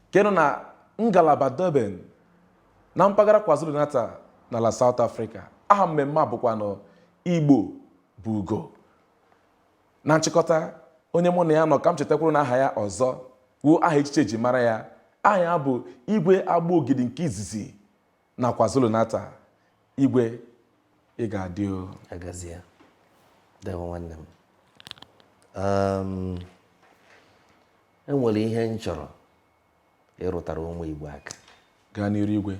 nke nọ na ngalaba Durban na mpaghara KwaZulu-Natal n'ala South Africa aha mmemme a bụkwanụ Igbo bụ ugo na nchịkọta onye mụ na ya nọ ka m chetakwuru na aha ya ọzọ wụ aha echichi e ji mara ya aha ya bụ igwe Agbaogidi nke izizi na KwaZulu-Natal igwe ị ga-adị o ya gazie dewo nwanne m Um, enwere ihe m chọrọ ịrụtara ụmụ Igbo aka gaa n'iru igwe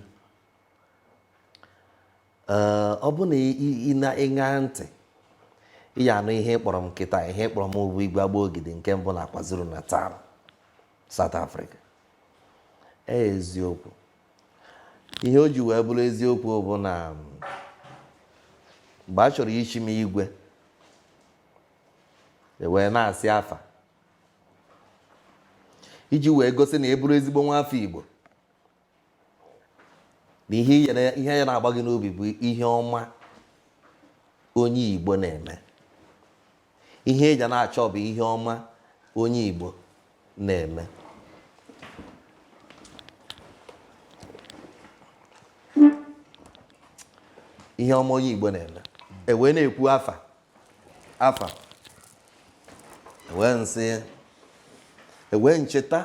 Ee, ọ bụ na ị- ị- ị na-aṅa ntị ị ya anụ ihe ọ kpọrọ m kịta ihe ọ kpọrọ m bụ igwe Agbaogidi nke mbụ na KwaZulu-Natal South Africa ee eziokwu ihe o ji wee bụrụ eziokwu bụ na mm, mgbe a chọrọ ichi m igwe ewee na-asị afa iji wee gosi na ị bụrụ ezigbo nwa afọ Igbo na ihe ya na-agba gị n'obi bụ ihe ọma onye Igbo na-eme ihe ị ya na-achọ bụ ihe ọma onye Igbo na-eme ihe ọma onye Igbo na-eme ewee na-ekwu afa afa ewee m sị ya ewee m cheta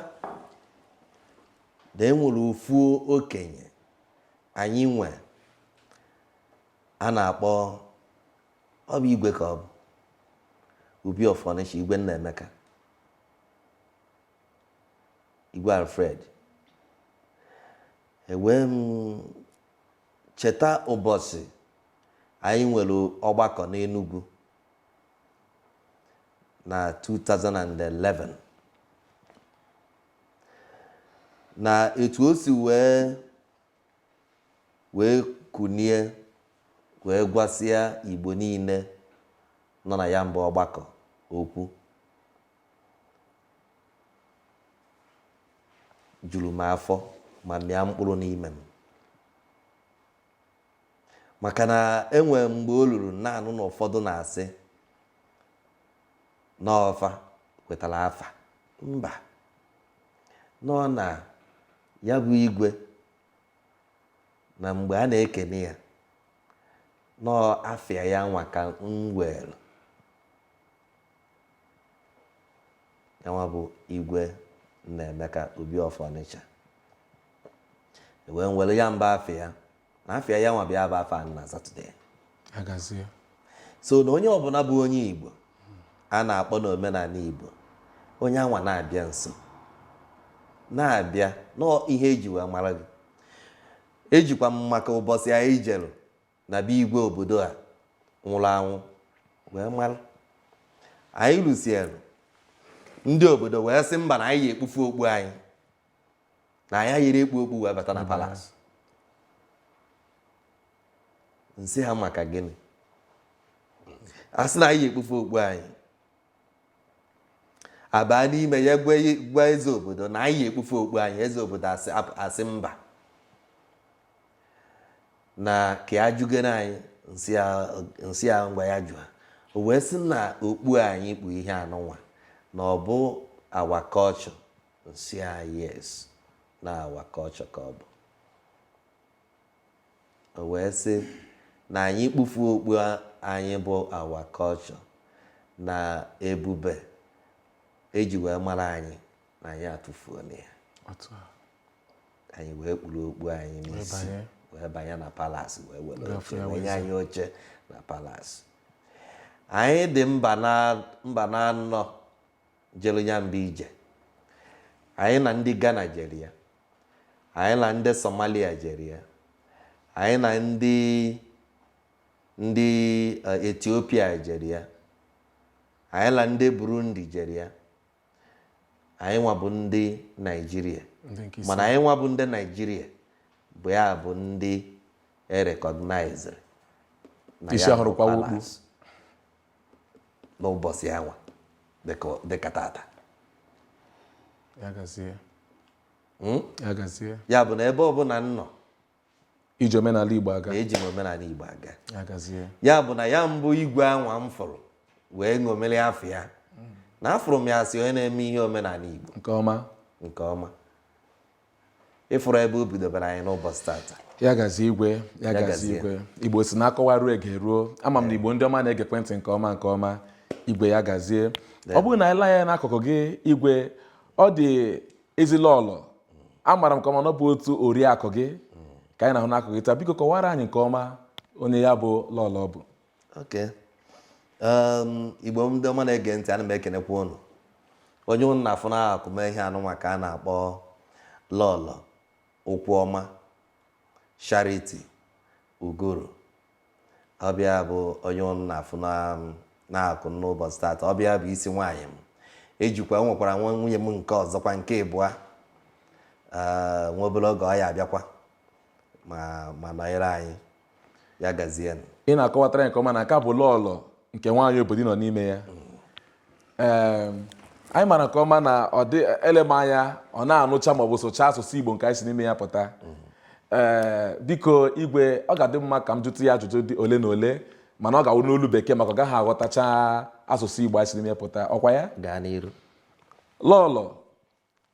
na enwere ofu okenye anyị nwe a na-akpọ ọ bụ igwe ka ọ bụ Obi of Onitsha igwe Nnaemeka igwe Alfred ewee m Cheta ụbọchị anyị nwere ọgbakọ n'Enugwu na 2011 na etu o si wee kunie wee gwasịa Igbo niile nọ na ya bụ ọgbakọ okwu juru m afọ ma mịa mkpụrụ n'ime m maka na enwere mgbe o ruru na-anụ na ụfọdụ na-asị na ọ fa kwetara afa mba nọ na ya bụ igwe na mgbe a na-ekene ya na ọ afa ya nwa ka m were yanwa bụ igwe Nnaemeka Obi of Ọnịcha wee nwere ya mba afa ya na afa ya nwa bịa bụ afa na Satọde agazie so na onye ọbụla bụ onye Igbo a na-akpọ n'omenala Igbo onye anwa na-abịa nso na-abịa na ọ ihe eji wee mara gị ejikwa m maka ụbọchị anyị jere na be igwe obodo a nwụrụ anwụ wee mara anyị lusiere ndị obodo wee sị mba na anyị ya-ekpufu okpu anyị na anyị yiri ekpu okpu wee bata na palace m sị ha maka gịnị a sị na anyị ya-ekpufu okpu anyị abaa n'ime ya gwa eze obodo na anyị ekpufe okpu anyị eze obodo asị mba na ka ya jụgere anyị m sị ya ngwa ya jụa o wee sị na okpu anyị kpu ihe anụnwa na ọ bụ our culture m sị ya yes na our culture ka ọ bụ O wee sị na anyị kpufuo okpu anyị bụ our culture na ebube eji wee mara anyị na anyị atụfuola ya anyị wee kpuru okpu anyị n'isi wee banye na palace wee were oche wee nye anyị oche na palace anyị dị mmadụ na anọ jere ya mbụ ije. Anyị na ndị Ghana jere ya. Anyị na ndị Somalia jere ya. Anyị na ndị ndị eh, Ethiopia jere ya. Anyị na ndị Burundi jere ya. Anyị nwa bụ ndị Naijiria. Ndị nke isi. Mana anyị nwa bụ ndị Naijiria bụ ya bụ ndị e recogniziri. na Isi ya bụ ahụrụkwawa okpu. Palace. n'ụbọchị anwa dịka tata hmm? ya bụ na ebe ọbụla m nọ iji omenala Igbo aga eji m omenala Igbo aga ya bụ na ya mbụ igwe anwa m fụrụ wee ṅomere afọ ya na afụrụ m ya as onye na-eme ihe omenala Igbo nke ọma nke ọma ịfụrụ ebe o bidobere anyị n'ụbọchị tata ya gazie igwe ya gazie igwe igbo sị na akọwaruo egeruo ama m na igbo ndị ọma na-egekwa ntị nke ọma nke ọma igwe ya gazie ọ bụrụ na i lee anya n'akụkụ gị igwe ọ dị ezi lọlọ amara m nke ọma na ọ bụ otu oriakụ gị ka anyị na-ahụ n'akụkụ gị taa biko kọwara anyị nke ọma onye ya bụ lọlọ bụ Okay. Um, igbo ndị ọma na-ege ntị ana m ekenekwa unu onye unu na-afụ n'akụkụ m ihe anụnwa ka a na-akpọ lọlọ Ụkwụọma Charity Uguru ọ bụ ya bụ onye unu na-afụ n'akụkụ m n'ụbọchị tata ọ bụ ya bụ isi nwaanyị m ejikwa nwekwara nwa nwunye m nke ọzọkwa nke ịbụa uh, nwa obere oge ọ ya-abịakwa ma nọnyere anyị ya gazie nụ. ị na-akọwatara ya nke ọma na nke a bụ lọlọ nke nwaanyị obodo ị nọ n'ime ya Em, anyị mara nke ọma na ọ dị elem anya ọ na-anụcha maọbụ sụcha asụsụ igbo nke anyị si n'ime ya pụta ee biko igwe ọ ga-adị mma ka m jụtụ ya ajụjụ dị ole na ole mana ọ ga-awụ n'olu bekee maka ọ gaghị aghọtacha asụsụ igbo anyị si n'ime ya pụta ọ kwa ya gaa n'iru lọlọ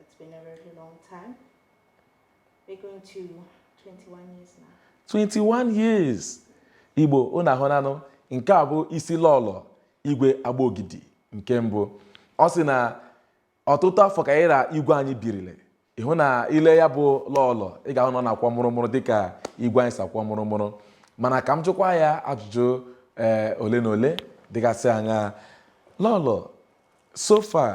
It's been a very long time. We're going to 21 years now. 21 years. Igbo unu ahụna nụ nke a bụ isi lọlọ igwe Agbogidi nke mbụ ọ sị na ọtụtụ afọ ka ya na igwe anyị birile ị hụ na i lee ya bụ lọlọ ị ga-ahụ na ọ na-akwọ mụrụmụrụ dịka igwe anyị si akwọ mụrụmụrụ mana ka m jụkwa ya ajụjụ ee ole na ole dịgasị anya lọlọ so far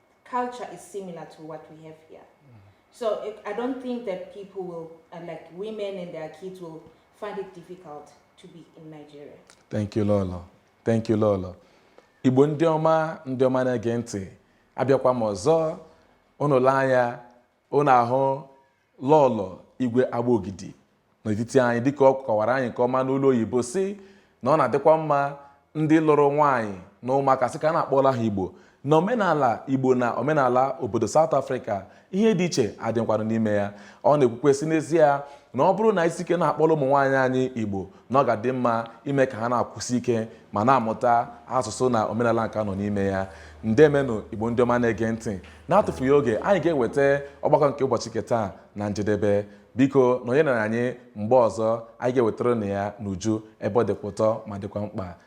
culture is similar to what we have here. Mm. So it, I don't think that people will, uh, like women and their kids, will find it difficult to be in Nigeria. Thank you, Lolo. Thank you, Lolo. Igbo ndị ọma ndị ọma na-ege ntị abịakwa m ọzọ unu lee anya Unu ahụ Lọọlọ Igwe Agbogidi n'etiti anyị dịka ọ kọwara anyị nke ọma n'olu oyibo sị na ọ na-adịkwa mma ndị lụrụ nwaanyị na ụmụaka sị ka a na-akpọla ha Igbo na omenala Igbo na omenala obodo South Africa ihe dị iche adịkwanụ n'ime ya ọ na-ekwukwa sị n'ezie na ọ bụrụ na anyị jisie ike na-akpọla ụmụ nwaanyị anyị Igbo na ọ ga-adị mma ime ka ha na-akwụsi ike ma na-amụta asụsụ na omenala nke nọ n'ime ya ndeemenụ Igbo ndị ọma na-ege ntị na-atụfughị oge anyị ga-eweta ọgbakọ nke ụbọchị nke taa na njedebe biko nọnyere anyị mgbe ọzọ anyị ga-ewetara unu ya n'uju ebe ọ dịkwa ụtọ ma dịkwa mkpa